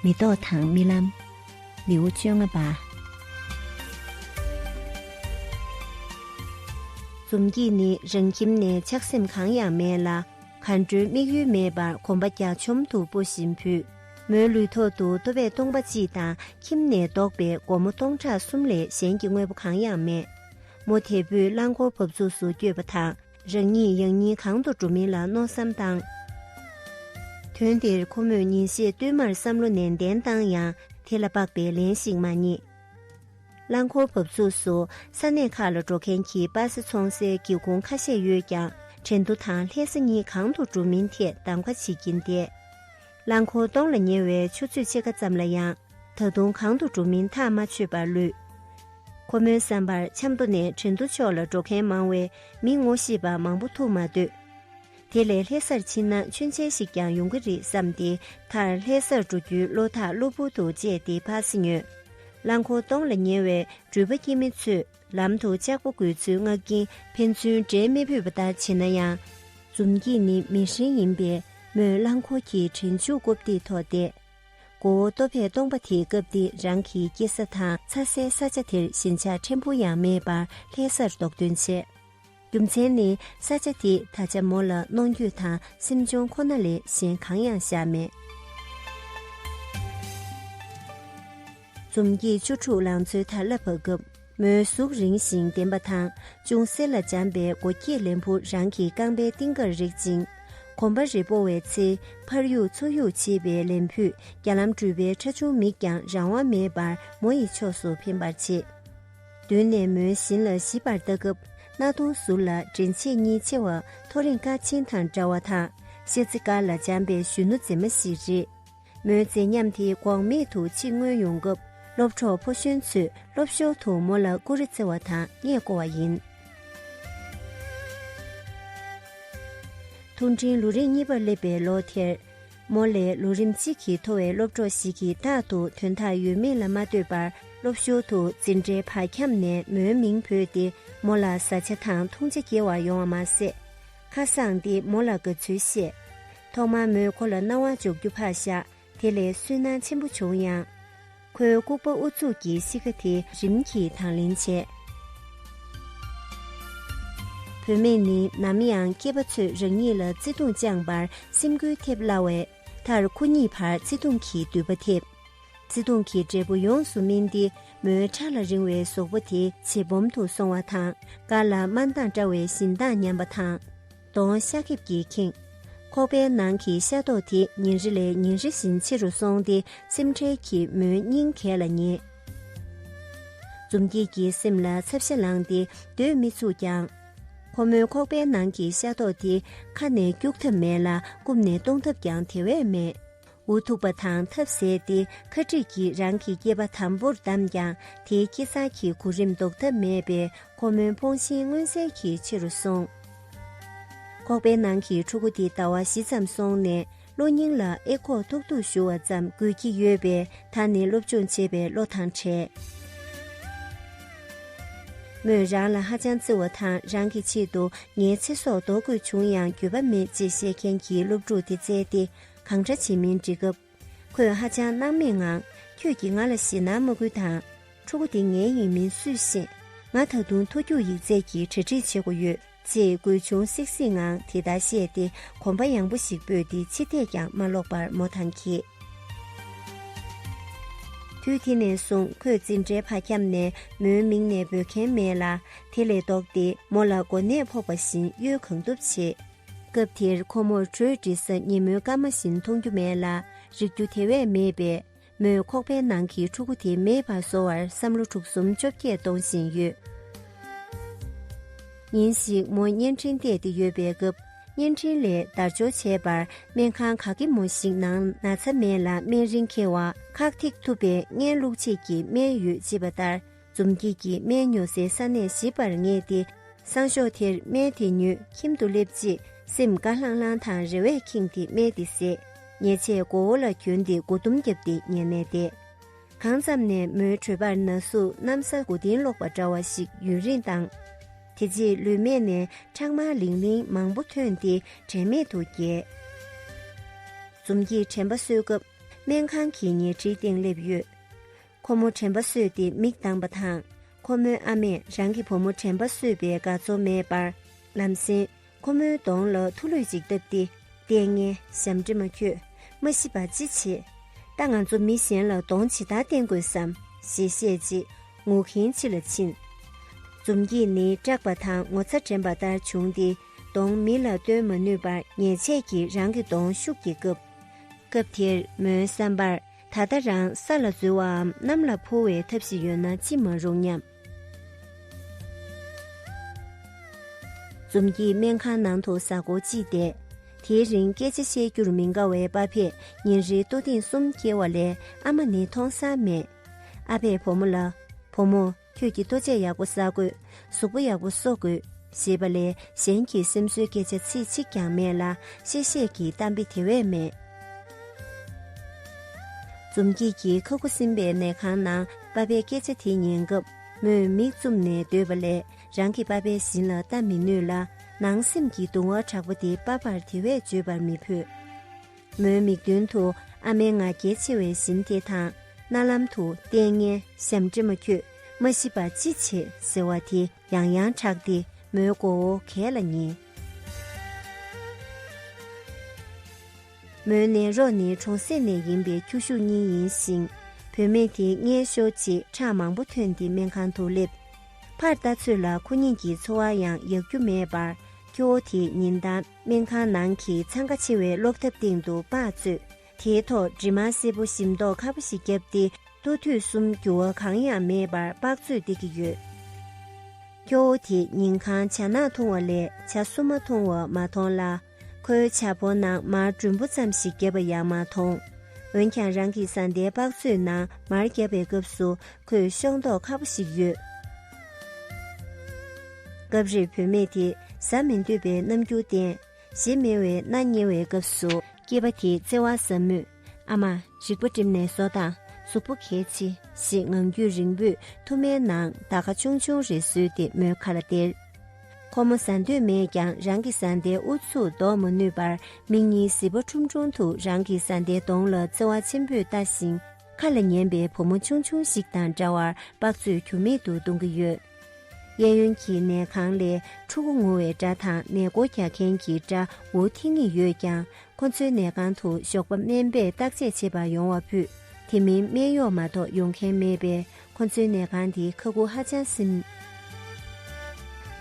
མེ་ཏོག་དང་རྨི་ལམ། ལེའུ་བཅོ་ལྔ་པ། འཛུམ་གྱིས་ནི་རང་ཁྱིམ་ནས་ཆགས་སེམས་གང་ཡང་མེད་ལ་གར་འགྲོའི་དམིགས་ཡུལ་མེད་པར་གོམ་པ་རྒྱ་ཆོམ་དུ་སྤོ་བཞིན་བུས། མོའི་ལུས་ཐོག་ཏུ་ལྟོ་བས་སྟོང་པ་གཅིག་དང་ཁྱིམ་ནས་བཟློག་པའི་སྒོར་མོ་སྟོང་ཕྲག་གསུམ་ལས་གཞན་གྱི་དངོས་པོ་གང་ཡང་མེད། མོ་དལ་བུས་རླངས་འཁོར་བབས་ཚུགས་སུ་བསྐྱོད་པ་དང། རང་ཉིད་ཡང་སྙིང་གང་དུ་འགྲོ་མིན་ལ་མནོ་བསམ་བཏང། དོན་དེར་ཁོ་མོས་ཉིན་ཤས་བསྟུད་མར་བསམ་བློ་ནན་ཏན་བཏང་ཡང་དེ་ལ་དཔག་པའི་ལན་ཞིག་མ་རྙེད། རླངས་འཁོར་བབས་ཚུགས་སུ་ས་གནས་ཁག་ལ་འགྲོ་མཁན་གྱི་སྤ་སེ་འཚོང་སའི་སྒེའུ་ཁུང་ཁ་ཤས་ཡོད་ཀྱང་དྲན་ཐོ་དང་ལྷས་ས་གཉིས་གང་དུ་འགྲོ་མིན་ཐད་གདམ་ཀ་བྱེད་ཀྱིན་བསྡད། རླངས་འཁོར་སྟོང་ལ་ཉེ་བའི་ཆུ་ཚོད་ཕྱེད་ཀ་ཙམ་ལ་ཡང་ད་དུང་གང་དུ་འགྲོ་མིན་ཐག་མ་ཆོད་པར་ལུས། ཁོ་མོའི་བསམ་པར་ཆབ་མདོ་ནས་ཁྲི་མདོ་ཕྱོགས་ལ་འགྲོ་མཁན་མང་བས་མི་ངོ་ཤེས་པ་མང་པོ་ཐུག་མ་འདོད། དེ་ལས་ལྷེ་སར་ཕྱིན་ན་མཆོད་མཇལ་ཞིག་ཀྱང་ཡོང་གི་རེད་བསམ་སྟེ་མཐར་ལྷེ་སར་འགྲོ་རྒྱུའི་བློ་ཐག་གློ་བུར་དུ་བཅད་དེ་ཕར་སེ་ཉོས། རླངས་འཁོར་སྟོང་ལ་ཉེ་བའི་འགྲུལ་པ་སྐྱིད་མི་ཚོས། ལམ་དུ་ལྕགས་པོ་འགོས་ཚུལ་བསྔགས་ཀྱིན་ཕན་ཚུན་འབྲལ་མི་ཕོད་པ་ལྟར་བྱེད་ན་ཡང། འཛུམ་གྱིས་ནི་མི་ཧྲེང་ཡིན་པས་མོས་རླངས་འཁོར་གྱི་དྲིལ་མཇུག་རྐུབ་སྟེགས་ཐོག་བསྡད། མགོ་བོ་ལྟོ་ཕད་སྟོང་པ་དེའི་སྐབས་འདི་རང་གི་སྐྱེས་ས་དང་ཚ་སའི་ས་ཆ་དེར་ཞེན་ཆགས་ཕྲན་བུ་ཡང་མེད་པར་ལྷའི་སར་རྡོག་ཐོན་བྱས། རྒྱུ་མཚན་ནི་ས་ཆ་དེ་ད་ཆ་མོ་ལ་གནོང་འགྱོད་དང་སེམས་གཅོང་ཁོ་ན་ལས་གཞན་གང་ཡང་བཞག་མེད། འཛུམ་གྱིས་བཅུ་དྲུག་ལང་ཚོའི་དར་ལ་བབས་སྐབས་མོའི་གཟུགས་རིང་ཞིང་ལྡེམ་པ་དང་ཅུང་གསེར་ལ་འཇམ་པའི་མགོ་སྐྱེས་ལན་བུ་རང་གི་རྐང་པའི་གཏིང་ཀར་རེག་ཅིང། གོམ་པ་རེ་སྤོ་བའི་ཚེ་ཕར་གཡུག་ཚུར་གཡུག་བྱེད་པའི་ལན་བུས་རྒྱ་ལམ་འགྲུལ་པའི་ཁྲ་ཆུང་མིག་ཀྱང་རང་དབང་མེད་པར་མོ་ཡི་ཕྱོགས་སུ་འཕེན་པར་བྱེད། མདུན་ནས་མོའི་བཞིན་ལ་ཞིབ་པར་ལྟ་སྐབས་སྣ་གདོང་ཟུར་ལ་འདྲེན་བྱེད་གཉིས་ཆེ་བ་ཐོ་རེངས་ཀ་ཆེན་དང་འདྲ་བ་དང་ཤེལ་རྩེ་དཀར་ལ་འཇམ་པའི་གཞོན་ནུ་མཛེས་མ་ཞིག་རེད། མོའི་མཛེས་ཉམས་དེ་འགོག་མེད་དུ་ཕྱིར་མངོན་ཡོང་སྐབས་སློབ་གྲོགས་ཕོ་གཞོན་ཚོས་སློབ་ཞོར་དུ་མོ་ལ་ཀུ་རེ་རྩེ་བ་དང་སྔས་བསྐོར་བ་ཡིན། ཐུགས་འཕྲིན་ལུས་རེངས་གཉིས་པར་སླེབས་པའི་ལོ་དེར། མོ་ལས་ལོ་རིམ་གཅིག་གི་མཐོ་བའི་སློབ་གྲོགས་ཤིག་གིས་རྟག་ཏུ་དོན་དག་ཡོད་མེད་ལ་མ་ལྟོས་པར་སློབ་ཞོར་དུ་འཛིན་གྲྭའི་བར་ཁྱམས་ནས་མོའི་མིང་བོས་ཏེ་མོ་ལ་བཟའ་བཅའ་དང་འཐུང་བྱ་སྐྱེལ་བར་ཡོང་བ་མ་ཟད། ཁ་སང་དེ་མོ་ལ་དགའ་ཚུལ་བཤད། ཐོག་མར་མོས་ཁོ་ལ་རྣ་བ་འཇོག་རྒྱུ་ཕར་བཞག་དེ་ལས་སུན་སྣང་ཆེན་པོ་བྱུང་ཡང། ཁོའི་ལྐུགས་པ་ཨུ་ཚུགས་ཀྱི་གཤིས་ཀ་དེ་རིམ་གྱིས་དང་ལེན་བྱས། བུད་མེད་ནི་ནམ་ཡང་སྐྱེས་པ་ཚོས་རང་ཉིད་ལ་བརྩེ་དུང་བཅངས་པར་སེམས་འགུལ་ཐེབས་སླ་བས། མཐར་ཁོ་གཉིས་བར་བརྩེ་དུང་གི་མདུད་པ་ཐེབས། བརྩེ་དུང་གི་འབྲས་བུ་ཡོངས་སུ་སྨིན་ཏེ་མོའི་ཕྲ་ལ་རིང་བའི་ཟོག་པོ་དེ་བྱེ་སྦོམ་དུ་སོང་བ་དང་དཀར་ལ་དམར་མདངས་བཀྲ་བའི་བཞིན་མདངས་ཉམས་པ་དང། གདོང་ཤ་ཁེབས་ཀྱིས་ཁེངས། ཁོག་པའི་ནང་གི་ཤ་རྡོག་དེ་ཉིན་རེ་ལས་ཉིན་རེ་བཞིན་ཆེ་རུ་སོང་སྟེ་སེམས་ཁྲལ་གྱིས་མོའི་སྙིང་གས་ལ་ཉེ། འཛུམ་སྐྱིད་ཀྱི་སེམས་ལ་ཚབ་ཤ་ལངས་ཏེ་སྡོད་མི་ཚུགས་ཀྱང། ཁོ་མོའི་ཁོག་པའི་ནང་གི་ཤ་རྡོག་དེ་ཁ་ནས་སྐྱུག་ཐབས་མེད་ལ་རྐུབ་ནས་གཏོང་ཐབས་ཀྱང་དེ་བས་མེད། འུ་ཐུག་པ་དང་ཐབས་ཟད་དེ་ཁ་ཁྲིད་ཀྱིས་རང་གི་སྐྱེས་པ་དམ་པོར་བདམས་ཀྱང་དེའི་སྐྱེ་གསར་གྱི་གོ་རིམ་ལྡོག་ཐབས་མེད་པས་ཁོ་མོའི་འཕོངས་ཤིང་མངོན་གསལ་གྱི་ཆེ་རུ་སོང། ཁོག་པའི་ནང་གི་ཕྲུ་གུ་དེ་ཟླ་བ་བཞི་ཙམ་སོང་ནས་གློ་སྙིང་ལ་ཨེ་ཁོག་ཐུག་ཐུག་ཞུ་བ་ཙམ་དགོས་ཀྱི་ཡོད་པས་ད་ནི་སློབ་སྦྱོང་བྱེད་པའི་བློ་ཐང་བྲལ། མོས་རང་ལ་ཧ་ཅང་བརྩེ་བ་དང་རང་གི་ཆེད་དུ་ངའི་ཚེ་སྲོག་འདོར་དགོས་བྱུང་ཡང་འགྱོད་པ་མེད་ཅེས་བཤད་མཁན་གྱི་སློབ་ཕྲུག་དེ་བཙལ་ཏེ་གང་འདྲ་བྱེད་མིན་འདྲི་སྐབས། ཁོས་ཧ་ཅང་སྣང་མེད་ངང་ཁྱོད་ཀྱིས་ང་ལ་ཞེད་སྣང་མ་སྐུལ་དང། ཕྲུ་གུ་དེ་ངའི་ཡིན་མིན་སུས་ཤེས། ང་ད་དུང་མཐོ་རྒྱུགས་ཡིག་ཚད་ཀྱི་གྲ་སྒྲིག་བྱེད་དགོས་ཡོད། ཅེས་གོས་ཆུང་སིག་སིག་ངང་དེ་ལྟར་བཤད་དེ་གོམ་པ་ཡངས་པོ་ཞིག་སྤོས་ཏེ་ཕྱི་ཐད་ཀྱང་མ་བསློགས་པར་མོ་དང་གྱེས། དུས་དེ་ནས་བཟུང་ཁོས་འཛིན་གྲྭའི་བར་ཁྱམས་ནས་མོའི་མིང་ནས་འབོད་མཁན་མེད་ལ། དེ་ལས་ལྡོག་སྟེ་མོ་ལ་གོ་གནས་ཕོག་པ་བཞིན་གཡོལ་གང་ཐུབ་བྱེད། སྐབས་དེར་ཁོ་མོར་དྲོད་འབྲི་ས་ཉིན་མོའི་སྐར་མ་བཞིན་མཐོང་རྒྱུ་མེད་ལ་རིག་རྒྱུ་དེ་བས་མེད་པས་མོས་ཁོག་པའི་ནང་གི་ཕྲུ་གུ་དེ་མེད་པར་བཟོ་བར་བསམ་བློ་དྲུག་གསུམ་བཅོ་བརྒྱད་གཏོང་བཞིན་ཡོད། ཉིན་ཞིག་མོ་བརྙན་འཕྲིན་བལྟས་ཏེ་ཡོད་པའི་སྐབས་བརྙན་འཕྲིན་ལས་བརྡར་འབྱོར་བྱས་པར་སྨན་ཁང་ག་གེ་མོ་ཞིག་ནང་ན་ཚ་སྨན་ལ་སྨན་རིན་ཁེལ་བ་ཁག་ཐེག་ཐུབ་པའི་བརྙན་བླུགས་ཆེད་ཀྱི་སྨན་ཡོད་ཅེས་པ་ལྟར། འཛུམ་སྐྱིད་ཀྱིས་སྨན་ཉོ་སའི་ས་གནས་ཞིབ་པར་ངེས་ཏེ། སང་ཞོགས་དེར་སྨན་དེ་ཉོས་ཁྱིམ་དུ་སླེབས་རྗེས་སེམས་དགའ་ལྷང་ལྷང་དང་རེ་བས་ཁེངས་ཏེ་སྨན་དེ་བཟས། ཉལ་ཆས་མགོ་བོ་ལ་གྱོན་ཏེ་མགོ་ཟླུམ་བརྒྱབ་སྟེ་ཉལ་ནས་བསྡད། གང་ཙམ་ནས་མོའི་གྲོད་པར་ན་ཟུག་གནམ་ས་དགུ་སྟེང་སློག་པ་འདྲ་བ་ཞིག་ཡུན་རིང་བཏང། དེ་རྗེས་ལུས་སྨད་ནས་ཁྲག་དམར་ལིང་ལིང་མང་པོ་ཐོན་ཏེ་དྲན་མེད་དུ་བརྒྱལ། འཛུམ་སྐྱིད་དྲན་པ་གསོས་སྐབས་སྨན་ཁང་གི་ཉལ་ཁྲིའི་སྟེང་སླེབས་ཡོད། ཁོ་མོ་དྲན་པ་གསོས་ཏེ་མིག་གདངས་པ་དང། ཁོ་མོའི་ཨ་མས་རང་གི་བུ་མོ་དྲན་པ་གསོས་པའི་དགའ་ཚོར་མེད་པར་ལམ་སེང་ཁོ་མོའི་གདོང་ལ་ཐུག་ལུད་ཅིག་བཏབ་སྟེ། ལྟས་ངན་ཞབས་འདྲེ་མ་ཁྱོད་མ་ཤི་བར་ཅི་བྱེད། ད་ང་ཚོ་མི་གཞན་ལ་གདོང་ཇི་ལྟར་བསྟན་དགོས་སམ་ཞེས་བཤད་རྗེས་ངུ་གིན་ཕྱི་ལ་ཕྱིན། འཛུམ་གྱིས་ནི་སྐྲག་པ་དང་ངོ་ཚ་དྲན་པ་ལྟར་བྱུང་སྟེ་གདོང་མི་ལ་སྟོན་མ་ནུས་པར་ཉེས་ཆད་ཀྱིས་རང་གི་གདོང་ཤུགས་ཀྱིས་བཀབ། སྐབས་དེར་མོའི་བསམ་པར་ད་ལྟ་རང་ས་ལ་འཛུལ་བའམ་གནམ་ལ་འཕུར་བའི་ཐབས་ཤིག་ཡོད་ན་ཅི་མ་རུང་སྙམ། འཛུམ་གྱིས་སྨན་ཁང་ནང་དུ་གཟའ་འཁོར་གཅིག་བསྡད། དེའི་རིང་སྐད་ཆ་བཤད་རྒྱུར་མི་དགའ་བའི་པ་ཕས་ཉིན་རེའི་ལྟོ་ཐེངས་གསུམ་སྐྱེལ་བ་ལས་ཨ་མ་ནི་མཐོང་ས་མེད། ཨ་ཕས་བུ་མོ་ལ། བུ་མོ། ཁྱོད་ཀྱིས་ལྟོ་ཆས་ཡག་པོ་བསག་དགོས། གཟུགས་པོ་ཡག་པོ་གསོ་དགོས། ཞེས་པ་ལས་གཞན་གྱི་སེམས་གསོའི་སྐད་ཆ་ཚིག་གཅིག་ཀྱང་མེད་ལ་གཤེ་གཤེ་གྱི་གཏམ་དཔེ་དེ་བས་མེད། འཛུམ་སྐྱིད་ཀྱིས་ཁ་ཁུ་སིམ་པའི་ནད་ཁང་ནང་པ་པའི་སྐད་ཆ་དེ་ཉན་སྐབས་མོས་མིག་བཙུམ་ནས་སྡོད་པ་ལས་རང་གི་པ་པའི་བཞིན་ལ་ལྟ་མི་ནུས་ལ་ནང་སེམས་ཀྱི་གདུང་བ་དྲག་པོ་དེ་པ་པར་དེ་བས་བརྗོད་པར་མི་ཕོད། མོའི་མིག་མདུན་དུ་ཨ་མའི་ང་རྒྱལ་ཆེ་བའི་བཞིན་དེ་དང། རྣ་ལམ་དུ་ལྟས་ངན་ཞབས་འདྲེ་མ་ཁྱོད་མ་ཤི་བར་ཅི་བྱེད་ཟེར་བ་དེ་ཡང་ཡང་གྲགས་ཏེ་མོའི་མགོ་བོ་གས་ལ་ཉེ། མོའི་ནད་རོ་ནི་གྲོང་གསེབ་ནས་ཡིན་པའི་ཁྱོ་ཤུག་གཉིས་ཡིན་ཞིང། བུད་མེད་དེ་མངལ་ཞོག་ཅེས་ཁྲག་མང་པོ་ཐོན་ཏེ་སྨན་ཁང་དུ་སླེབས། ཕར་ལྟ་ཚོད་ལ་ཁོ་གཉིས་ཀྱི་འཚོ་བ་ཡང་ཡག་རྒྱུ་མེད་པར་ཁྱོ་བོ་དེས་ཉིན་དང། སྨན་ཁང་ནང་གི་འཚང་ཁ་ཆེ་བའི་སློབ་ཐབ་སྟེང་དུ་པགས་བཙོས། དེའི་ཐོག་གྲིབ་མ་སེར་པོ་ཞིམ་མདོག་ཁ་པོ་ཞིག་བརྒྱབ་སྟེ་ལྟོ་དུས་གསུམ་འགྱུར་བ་གང་ཡང་མེད་པར་པགས་བཙོས་བསྡད་ཀྱི་ཡོད། སྐྱོ་བོ་དེས་ཉིན་གང་བྱ་ནག་འཐུང་བ་ལས་བྱ་སུ་མ་འཐུང་བ་མ་མཐོང་ལ། ཁོའི་བྱ་ཕོ་ནང་མར་འགྲོན་བུ་ཙམ་ཞིག་བརྒྱབ་པ་ཡང་མ་མཐོང། འོན་ཀྱང་རང་གི་བཟའ་ཟླའི་པགས་བཙོས་ནང་མར་བརྒྱབ་པའི་སྐབས་སུ་ཁོས་ཤོག་མདོག་ཁ་པོ་ཞིག་གཡོས། སྐབས་རེར་བུད་མེད་དེས་ཟ་མི་འདོད་པའི་རྣམ་འགྱུར་བསྟན། ཞེས་སྨྲེང་བའི་སྣ་བསྙལ་བའི་སྐབས་སུ། སྐྱེས་པ་དེས་བརྩེ་བ་ཟབ་མོས། ཨ་མ། རིག་པ་བསྒྲིམས་ནས་ཟོ་དང་གཟུགས་པོ་གལ་ཆེ། ཞེས་ངང་རྒྱུད་རིང་པོས་ཐུར་མའི་ནང་རྡ་ཁ་ཆུང་ཆུང་རེ་བཟོས་ཏེ་མོའི་ཁ་ལ་སྟེར། ཁོ་མོ་ཟ་འདོད་མེད་ཀྱང་རང་གི་བཟའ་ཟླའི་ཨུ་ཚུགས་བཟློག་མ་ནུས་པར་མིག་གཉིས་བཟི་བ་ཁྲུམ་ཁྲུམ་དུ་རང་གི་བཟའ་ཟླའི་གདོང་ལ་བརྩེ་བ་ཆེན་པོས་ལྟ་ཞིང། ཁ་ལ་ཉན་པའི་བུ་མོ་ཆུང་ཆུང་ཞིག་དང་འདྲ་བར་པགས་བཙོས་ཁྱུར་མིད་དུ་གཏོང་གི་ཡོད། གཡས་གཡོན་གྱི་ནས་ཁང་ལས་ཕྲུ་གུ་ངུ་བའི་སྒྲ་དང་ནས་སྒོ་རྒྱག་མཁན་གྱི་སྒྲ་འུར་ཐིང་ངེ་ཡོད་ཀྱང་ཁོ་ཚོའི་ནས་ཁང་དུ་ཞོགས་པ་སྨན་པས་བརྟག་དཔྱད་བྱེད་པར་ཡོང་བ་ཕུད། དེ་མིན་སྨན་གཡོག་མ་གཏོགས་ཡོང་མཁན་མེད་པས་ཁོ་ཚོའི་ནས་ཁང་དེ་ཁ་ཁུ་ཧ་ཅང་སིམ།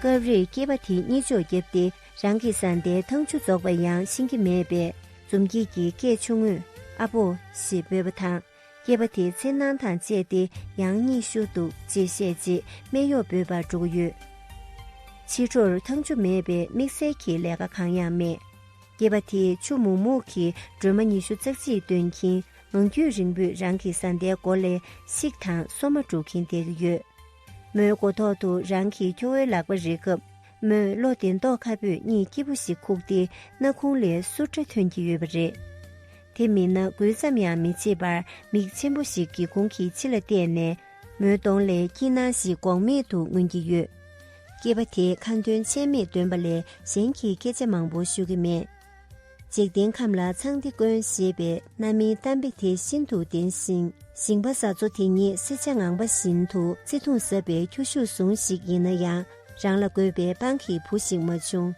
སྐབས་རེར་སྐྱེས་པ་དེ་གཉིས་ཅོག་བརྒྱབ་སྟེ་རང་གི་བཟའ་ཟླའི་ཐང་ཆུ་རྫོགས་པ་ཡང་ཤེས་ཀྱི་མེད་པས་འཛུམ་སྐྱིད་ཀྱིས་སྐད་ཆུང་ངུས་ཨ་ཕོ་ཞེས་འབོད་པ་དང་སྐྱེས་པ་དེའི་ཚེ་སྣང་དང་བཅས་ཏེ་ཡང་གཉིད་ཤོར་འདུག་ཅེས་བཤད་རྗེས་སྨད་གཡོག་འབོད་པར་འགྲོ་གི་ཡོད། ཕྱི་དྲོར་ཐང་ཆུ་མེད་པས་དམིགས་བསལ་གྱི་ལས་ཀ་གང་ཡང་མེད། སྐྱེས་པ་དེས་ཆུ་མུག་མུག་གི་སྒྲོལ་མ་ཉི་ཤུ་རྩ་གཅིག་བཏོན་གྱིན་ལོ་རྒྱུས་རིང་པོས་རང་གི་བཟའ་ཟླའི་མགོ་ལས་ཤིག་དང་སོ་མ་དཀྲུག་གིན་བསྡད་ཀྱི་ཡོད། མོའི་མགོ་ཐོག་ཏུ་རང་གི་ཁྱོ་བོའི་ལག་པ་རེག་སྐབས། མོས་བློ་བདེ་མདོག་ཁ་སྤུས་གཉིས་སྐྱིད་པོ་ཞིག་ཁུག་སྟེ་སྣ་ཁུང་ལས་སུར་སྒྲ་ཐོན་གྱི་ཡོད་པ་རེད། དེ་མིན་ན་འགུལ་ཙམ་ཡང་མི་བྱེད་པར་མིག་ཆེན་པོ་ཞིག་གིས་ཁོང་གི་ཕྱི་ལ་བལྟས་ནས་མོའི་གདོང་ལས་སྐྱིད་སྣང་ཞིག་འགོག་མེད་དུ་མངོན་གྱི་ཡོད། སྐྱེས་པ་དེས་ཁ་འདོན་ཆད་མེད་འདོན་པ་ལས་གཞན་གྱི་སྐད་ཆ་མང་པོ་ཤོད་ཀྱི་མེད། འཇིག་རྟེན་ཁམས་ལ་ཚངས་ཏེ་དཀོན་ཞེས་པའི་རྣམ་སྨིན་གཏམ་དཔེ་དེ་ཤིན་ཏུ་བདེན་ཞིང་ཞིང་པ་བཟའ་ཚོ་དེ་ཉིད་བསིལ་ཆ་ངང་པ་བཞིན་དུ་བརྩེ་དུང་ཟབ་པའི་ཁྱོ་ཤུག་ཟུང་ཞིག་ཡིན་ན་ཡང་རང་ལ་དགོས་པའི་དཔང་གི་བུ་ཞིག་མ་བྱུང།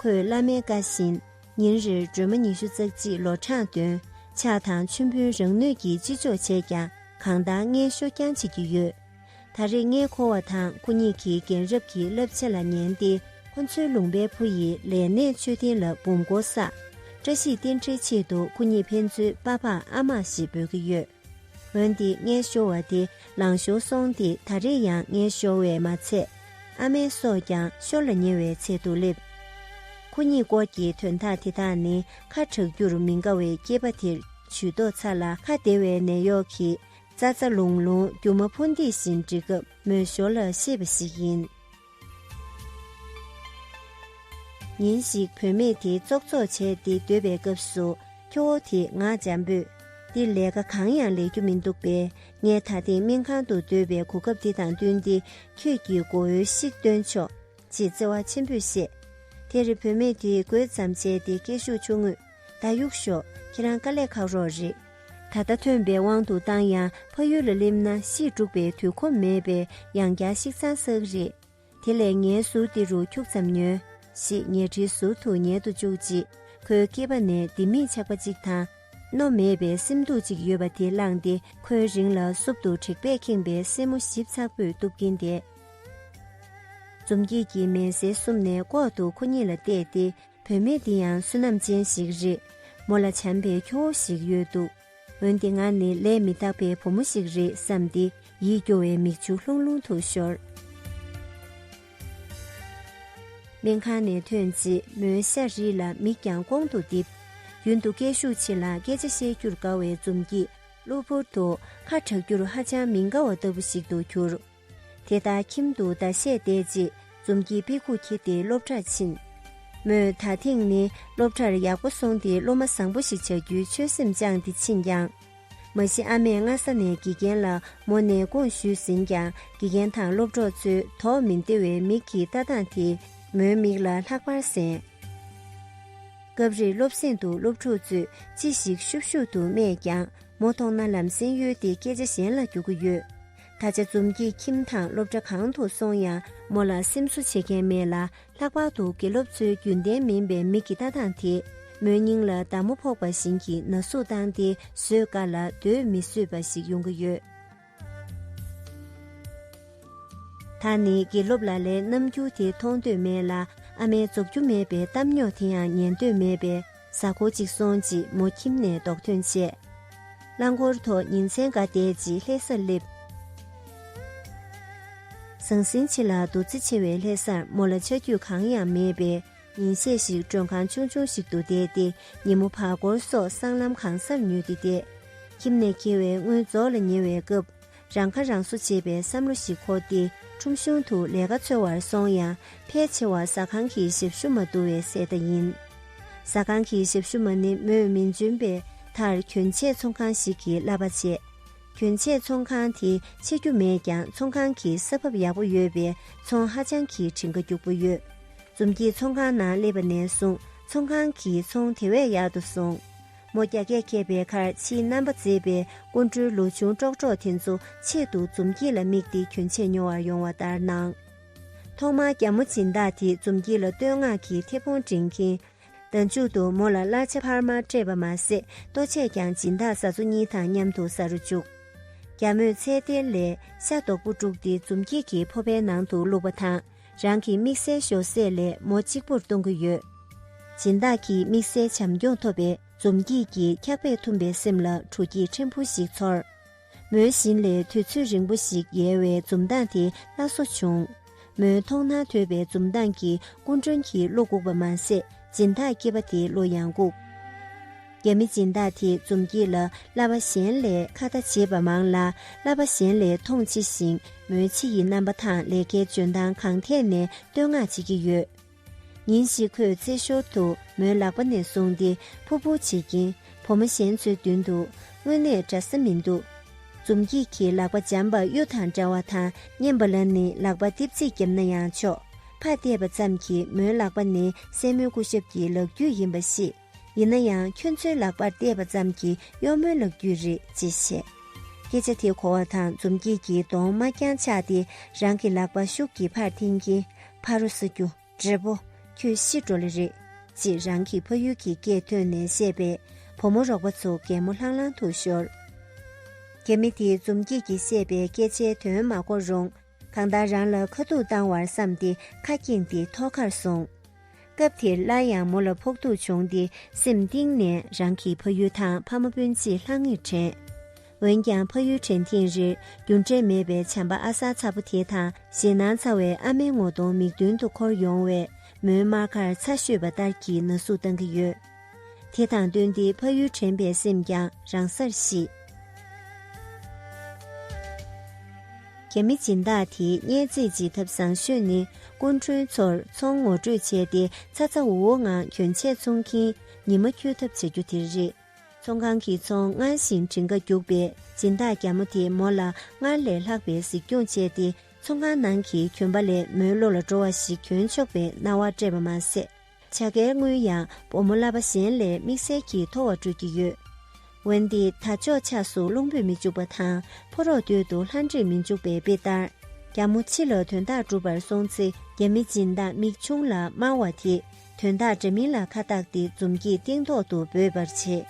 ཁོས་བླ་མའི་བཀའ་བཞིན་ཉིན་རེར་སྒྲོལ་མ་ཉི་ཤུ་རྩ་གཅིག་ལོ་གྲངས་འདོན་ཕྱག་དང་མཆོད་འབུལ་རང་ནུས་ཀྱིས་ཅི་ལྕོགས་བྱས་ཀྱང་གང་དག་ངན་ཤོ་རྐྱང་བྱེད་ཀྱི་ཡོད། ད་རེས་ངས་ཁོ་བ་དང་ཁོ་གཉིས་ཀྱི་རྒན་རབས་ཀྱི་བསླབ་ཚེ་ལ་ཉན་ཏེ་ཁོ་ཚོའི་ལུང་པའི་བུ་ཡི་ལས་གནས་མཆོད་རྟེན་ལ་འབུམ་སྒོ་བསགས། བཀྲ་ཤིས་རྟེན་འབྲེལ་ཆེད་དུ་ཁོ་གཉིས་ཕན་ཚུན་དཔའ་ཕག་ཨ་མ་ཞེས་འབོད་ཀྱི་ཡོད། འོན་ཏེ་ངའི་ཤོར་བ་དེ་ལང་ཤོར་སོང་སྟེ་ད་རེས་ཡང་ངའི་ཤོར་བས་མ་ཚད། ཨ་མའི་སྲོག་ཀྱང་ཤོར་ལ་ཉེ་བའི་ཚད་དུ་སླེབས། ཁོ་གཉིས་སྐོར་གྱི་དོན་དག་དེ་དག་ནི་ཁ་གྲག་རྒྱུར་མི་དགའ་བའི་སྐྱེས་པ་དེར་ཇུས་ཏོག་ཚ་ལ་ཁ་བདེ་བའི་ནད་གཡོག་གིས་རྩྭ་རྩྭ་ལུང་ལུང་རྒྱུ་མ་ཕོ་འདི་བཞིན་འབྲི་སྐབས་མོའི་ཞོར་ལ་ཤེས་པ་ཞིག་ཡིན། ཉིན་ཞིག་བུད་མེད་དེ་ཙོག་ཙོག་བྱས་ཏེ་སྡོད་པའི་སྐབས་སུ་ཁྱོ་བོ་དེས་ངག་འཇམ་པོས། འདི་ལས་ཀ་གང་ཡང་ལས་རྒྱུ་མི་འདུག་པས་ངས་ད་ཐེངས་སྨན་ཁང་དུ་སྡོད་པའི་གོ་སྐབས་དེ་དང་བསྟུན་ཏེ་ཁྱོད་ཀྱིས་མགོ་བོའི་ཤིག་བཏོན་ཆོག། ཅེས་བརྩེ་བ་ཆེན་པོས་བཤད། དེར་རི་བོད་མེད་དེའི་གོས་ཙམ་བྱས་ཏེ་སྐད་ཤུགས་ཆུང་ངུས་ད་གཡུག་ཞོག་ཁྱེད་རང་དཀའ་ལས་ཁག་རོགས་རེད། ད་ལྟ་ཐོན་པའི་དབང་དུ་བཏང་ཡང་ཕ་ཡུལ་ལ་སླེབས་ན་གཞིས་སྤྲུགས་པའི་དུས་ཁོམ་མེད་པས་ཡང་བསྐྱར་ཤིག་ཚང་བསགས་རེད། དེ་ལས་ངའི་ཟུར་འདི་རུ་འཁྱུག་ཙམ་ཉོན། ཞེས་ཉལ་ཁྲིའི་ཟུར་དུ་ཉལ་དུ་བཅུག་རྗེས་ཁོའི་སྐེད་པ་ནས་ལྡེ་མིག་ཆག་པ་ཅིག་དང། རྣོ་མེད་པའི་སེམས་སྡུག་ཅིག་ཡོད་པ་དེ་བླངས་ཏེ་ཁོའི་རིང་ལ་སུབ་ཏུ་དྲེག་པས་ཁེངས་པའི་སེན་མོ་ཞིབ་ཚགས་པོས་གཏུབ་ཀྱིན་བསྡད། འཛུམ་སྐྱིད་ཀྱིས་མལ་སའི་གསུམ་ནས་ལྐོག་ཏུ་ཁོ་གཉིས་ལ་བལྟས་ཏེ་བུད་མེད་འདི་ཡང་བསོད་ནམས་ཅན་ཞིག་རེད། མོ་ལ་བྱམས་པའི་ཁྱོ་བོ་ཞིག་ཡོད་འདུག་འོན་ཏེ་ང་ནི་ལས་མི་དག་པའི་བུ་མོ་ཞིག་རེད་བསམས་ཏེ་ཡིད་སྐྱོ་བའི་མིག་ཆུ་ལྷུང་ལྷུང་དུ་ཤོར། སྨན་ཁང་ནས་ཐོན་རྗེས་མོའི་ཤ་རིས་ལ་མིག་ཀྱང་ཀོང་དུ་བསྡིབས། རྒྱུན་དུ་སྐད་ཤུགས་ཆེ་ལ་སྐད་ཆ་བཤད་རྒྱུར་དགའ་བའི་འཛུམ་སྐྱིད་གློ་བུར་དུ་ཁ་གྲག་རྒྱུར་ཧ་ཅང་མི་དགའ་བ་ལྟ་བུ་ཞིག་ཏུ་གྱུར། དེ་ལྟར་ཁྱིམ་དུ་ཟླ་ཤས་བསྡད་རྗེས་འཛུམ་གྱིས་དཔེ་ཁུག་འཁྱེར་ཏེ་སློབ་གྲྭར་ཕྱིན། མོས་ད་ཐེངས་ནི་སློབ་གྲྭར་ཡག་པོ་སོང་སྟེ་སློབ་མ་བཟང་པོ་ཞིག་བྱ་རྒྱུའི་ཆོད་སེམས་བཅངས་ཏེ་ཕྱིན་ཀྱང། མ་གཞི་ཨ་མས་སྔ་ས་ནས་དགེ་རྒན་ལ་མོ་ནས་དགོངས་ཞུས་ཟིན་ཀྱང་དགེ་རྒན་དང་སློབ་གྲོགས་ཚོས་དོགས་མི་བདེ་བའི་མིག་གི་ལྟ་སྟངས་དེས་མོའི་མིག་ལ་ལྷག་པར་གཟན། སྐབས་རེར་སློབ་གསེང་དུ་སློབ་ཕྲུག་ཚོས་ཅི་ཞིག་ཤུབ་ཤུབ་ཏུ་སྨྲས་ཀྱང་མོ་མཐོང་ན་ལམ་སེང་གཡོལ་ཏེ་སྐད་ཆ་གཞན་ལ་རྒྱུག་གི་ཡོད། ད་ཆ་འཛོམས་ཀྱི་ཁྱིམ་དང་སློབ་གྲྭ་གང་དུ་སོང་ཡང་མོ་ལ་སེམས་གསོ་བྱེད་མཁན་མེད་ལ་ལྷག་པར་དུ་དགེ་སློབ་ཚོའི་རྒྱུན་ལྡན་མིན་པའི་མི་གི་ལྟ་སྟངས་དེས་མོའི་སྙིང་ལ་མདའ་མོ་ཕོག་པ་བཞིན་གྱི་ན་ཟུག་བཏང་སྟེ་བཟོད་དཀའ་ལ་སྡོད་མི་བཟོད་པ་ཞིག་ཡོང་གི་ཡོད། ད་ནི་དགེ་སློབ་ལ་ལའི་རྣམ་འགྱུར་དེ་མཐོང་འདོད་མེད་ལ་ཨ་མའི་རྫོགས་རྒྱུ་མེད་པའི་གཏམ་ཉོག་དེ་ཡང་ཉན་འདོད་མེད་པས། གཟའ་འཁོར་གཅིག་སོང་རྗེས་མོ་ཁྱིམ་ནས་རྡོག་ཐོན་བཅད། རླངས་འཁོར་ཐོག་ཉིན་མཚན་འགའ་བསྡད་རྗེས་ལྷས་སར་སླེབས། ཟང་ཟིང་ཆེ་ལ་འདུ་འཛི་ཆེ་བའི་ལྷས་སར་མོ་ལ་ཆ་རྒྱུས་གང་ཡང་མེད་པས་ཉིན་ཤས་ཤིག་མགྲོན་ཁང་ཆུང་ཆུང་ཞིག་ཏུ་བསྡད་དེ་ཉིན་མོ་བར་སྐོར་སོགས་སྲང་ལམ་གང་སར་ཉུལ་ཏེ་བསྡད། ཁྱིམ་ནས་འཁྱེར་བའི་དངུལ་རྫོགས་ལ་ཉེ་བའི་སྐབས། རང་ཁ་རང་གསོ་བྱེད་པའི་བསམ་བློ་ཞིག་འཁོར་ཏེ་ཁྲོམ་གཞུང་དུ་ལས་ཀ་འཚོལ་བར་སོང་ཡང་ཕལ་ཆེ་བ་ཟ་ཁང་གི་ཞབས་ཞུ་མ་བསྡུ་བའི་གསལ་བརྡ་ཡིན། ཟ་ཁང་གི་ཞབས་ཞུ་མ་ནི་མོས་མིང་འཇོན་པའི་མཐར་གྱོན་ཆས་ཚོང་ཁང་ཞིག་གི་གླ་པ་བྱས། གྱོན་ཆས་ཚོང་ཁང་དེ་ཕྱེ་རྒྱུ་མེད་ཀྱང་ཚོང་ཁང་གི་ས་བབ་ཡག་པོ་ཡོད་པས་ཚོང་ཧ་ཅང་གི་བྲིན་ཁ་རྒྱུག་པོ་ཡོད། འཛུམ་གྱིས་ཚོང་ཁང་ནང་སླེབས་པ་ནས་བཟུང་ཚོང་ཁང་གི་ཚོང་དེ་བས་ཡག་ཏུ་སོང། མོ་རྒྱ་སྐད་མཁས་པའི་ཁར་ཕྱིའི་རྣམ་པ་མཛེས་པའི་སྐུ་མགྲོན་ལོ་ཆུང་ཀྲོག་ཀྲོག་དེ་ཚོ་ཆེད་དུ་འཛུམ་སྐྱིད་ལ་དམིགས་ཏེ་གྱོན་ཆས་ཉོ་བར་ཡོང་བ་ལྟར་སྣང། ཐོག་མར་རྒྱ་མོ་སྦྱིན་བདག་དེས་འཛུམ་སྐྱིད་ལ་བསྟོད་བསྔགས་ཀྱི་མཐེ་བོང་སྒྲེང་གིན། ཟླ་མཇུག་ཏུ་མོ་ལ་གླ་ཆ་འཕར་མ་སྤྲད་པ་མ་ཟད་ལྟོ་ཆས་ཀྱང་སྦྱིན་བདག་བཟའ་ཚོ་གཉིས་དང་མཉམ་དུ་ཟ་རུ་བཅུག། རྒྱ་མོས་ཚལ་སྡེར་ལས་ཤ་རྡོག་པོ་དཀྲུགས་ཏེ་འཛུམ་སྐྱིད་ཀྱི་ཕོ་བའི་ནང་དུ་བླུགས་པ་དང། རང་གི་དམིགས་བསལ་ཤོག་སེར་ལས་མོ་གཅིག་པུར་གཏོང་གི་ཡོད། སྦྱིན་བདག་གིས་དམིགས་བསལ་བྱམས་སྐྱོང་ཐོབ་པའི་འཛོམས་སྐྱིད་ཀྱིས་འཁྱག་པས་འཐུམས་པའི་སེམས་ལ་དྲོ་སྐྱིད་ཕྲན་བུ་ཞིག་ཚོར། མོའི་བཞིན་ལས་དུས་ཚོད་རིང་པོ་ཞིག་ཡལ་བའི་འཛུམ་མདངས་དེ་སླར་གསོ་བྱུང། མོའི་མཐོང་སྣང་དོད་པའི་འཛུམ་མདངས་ཀྱིས་སྐུ་མགྲོན་གྱི་བློ་བཀུག་པ་མ་ཟད་སྦྱིན་བདག་སྐྱེས་པ་དེའི་བློ་ཡང་བཀུག། རྒྱ་མི་སྦྱིན་བདག་དེས་འཛུམ་བགྱིས་ལ་བསླབ་པ་གཞན་ལས་ཁ་བརྡ་བྱེད་པ་མང་ལ་བསླབ་པ་གཞན་ལས་མཐོང་ཆེ་ཞིང་མོའི་ཕྱི་ཡི་རྣམ་པ་དང་ལས་ཀའི་འཇོན་ཐང་གང་ཐད་ནས་བསྟོད་བསྔགས་བྱེད་ཀྱི་ཡོད། ཉིན་ཞིག་ཁོས་རྩེད་ཞོར་དུ་མོའི་ལག་པ་ནས་བཟུང་སྟེ་ཕུར་ཕུར་བྱེད་ཀྱིན་བུ་མོ་གཞན་ཚོའི་མདུན་དུ་དངོས་གནས་འདྲ་ས་མི་འདུག་འཛུམ་བགྱིས་ཀྱིས་ལག་པ་འཇམ་པ་གཡུ་དང་འདྲ་བ་དང་མཉེན་པ་ལ་ནི་ལག་པ་ལྟིབ་ཚིག་བརྒྱབ་ན་ཡང་ཆོག་ཕར་བལྟས་པ་ཙམ་གྱིས་མོའི་ལག་པ་ནི་སྲས་མོའི་སྐུ་ཞབས་ཀྱི་ལག་བརྒྱུད་ཡིན་པ་ཤེས། ཡིན་ན་ཡང་ཁྱོད་ཚོའི་ལག་པར་གཏད་པ་ཙམ་གྱིས་གཡོག་མོའི་ལག་བརྒྱུད་རེད་ཅེས་བཤད། སྐད་ཆ་དེ་གོ་བ་དང་འཛུམ་སྐྱིད་ཀྱིས་གདོང་དམར་རྐྱང་ཆགས་ཏེ་རང་གི་ལག་པ་ཤུགས་ཀྱིས་ཕར་འཐེན་གྱིན་ཕ་རོ་ས་རྒྱུ་བགྲེས་པོ་ཁྱོད་ཤི་འགྲོ་ལེ་རེད། ཅེས་རང་གི་ཕ་ཡུལ་གྱི་སྐད་ཐོན་ནས་བཤད་པས་བུ་མོ་རོགས་པ་ཚོ་གད་མོ་ལྷང་ལྷང་དུ་ཤོར། གད་མི་དེས་འཛུམ་སྐྱིད་ཀྱིས་བཤད་པའི་སྐད་ཆའི་དོན་མ་གོ་རུང། གང་ལྟར་རང་ལ་ཁ་ཐུག་བཏང་བར་བསམས་ཏེ་ཁ་བསྐྱེངས་ཏེ་ཐོག་ཁར་སོང། སྐབས་དེར་སླར་ཡང་མོ་ལ་ཕོག་ཐུག་བྱུང་སྟེ་སེམས་གཏིང་ནས་རང་གི་ཕ་ཡུལ་དང་ཕ་མ་སྤུན་མཆེད་ལྷང་ངེར་དྲན། འོན་ཀྱང་ཕ་ཡུལ་དྲན་ཐེངས་རེར་རྒྱུ་འབྲས་མེད་པའི་བྱམས་པ་ཨ་གསར་ཚ་པོ་དེ་དང་ཞེད་སྣང་ཚ་བའི་ཨ་མའི་ངོ་གདོང་མིག་མདུན་དུ་འཁོར་ཡོང་བས་མོའི་མར་ཁར་ཚ་ཤོས་པ་ལྟར་གྱི་ན་ཟུག་བཏང་གི་ཡོད། དེ་དང་བསྟུན་ཏེ་ཕ་ཡུལ་དྲན་པའི་སེམས་ཀྱང་རང་སར་ཞི། རྒྱ་མི་སྦྱིན་བདག་དེས་བསྙད་རྫས་འབྱིད་ཐབས་བཟང་ཤོས་ནི་སྐུ་མགྲོན་ཚོར་མཚོ་ངོ་སྤྲོད་བྱས་ཏེ་ཚ་ཚ་འུར་འུར་ངང་གྱོན་ཆས་ཚོང་གིན་ཉི་མ་འཁྱོལ་ཐབས་བྱ་རྒྱུ་དེ་རེད། ཚོང་ཁང་གི་ཚོང་སྔར་བཞིན་བྲིན་ཁ་རྒྱུག་པས་སྦྱིན་བདག་རྒྱ་མོ་དེས་མོ་ལ་སྔར་ལས་ལྷག་པའི་གཟིགས་སྐྱོང་བྱས་ཏེ་ཚོང་ཁང་ནང་གི་གྱོན་པ་ལས་མོའི་བློ་ལ་འགྲོ་བ་ཞིག་གྱོན་ཆོག་པའི་སྣང་བ་སྤྲད་པ་མ་ཟད། བྱ་དགའི་དངུལ་ཡང་བུ་མོ་གླ་པ་གཞན་ལས་དམིགས་བསལ་གྱིས་མཐོ་བ་སྤྲོད་ཀྱི་ཡོད། འོན་ཏེ་ད་ཅོག་ཆགས་སུ་རླུང་བུས་མི་འཇུག་པ་དང་ཕོ་རོག་སྟོད་དུ་ལྷ་འདྲེས་མི་འཇུག་པའི་དཔེ་ལྟར། རྒྱ་མོ་ཕྱི་ལ་དོན་དག་འགྲུབ་པར་སོང་ཚེ་རྒྱ་མི་སྦྱིན་བདག་མིག་ཆུང་ལ་སྨྲ་བ་དེས་དོན་དག་འདྲ་མིན་ལ་ཁ་བཏགས་ཏེ་འཛུམ་གྱིས་སྟེང་ཐོག་ཏུ་འབོད་པར་བྱེད།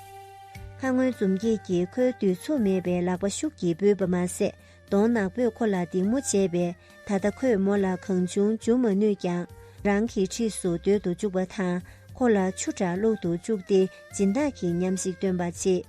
ཁ་སྔོན་འཛུམ་སྐྱེས་ཀྱིས་ཁོའི་བསྡུས་ཚུགས་མེད་པའི་ལག་པ་ཤུགས་ཀྱིས་འབུད་པ་མ་ཟད་གདོང་ནག་པོས་ཁོ་ལ་སྡིགས་མོ་བྱས་པས་ད་ལྟ་ཁོས་མོ་ལ་གང་བྱུང་འཇུ་མ་ནུས་ཀྱང་རང་གི་འཁྲིས་སུ་སྡོད་དུ་བཅུག་པ་དང་ཁོ་ལ་ཆུ་དྲག་བླུག་ཏུ་བཅུག་སྟེ་སྦྱིན་བདག་གི་ཉམས་ཤིག་སྟོན་པ་བྱེད།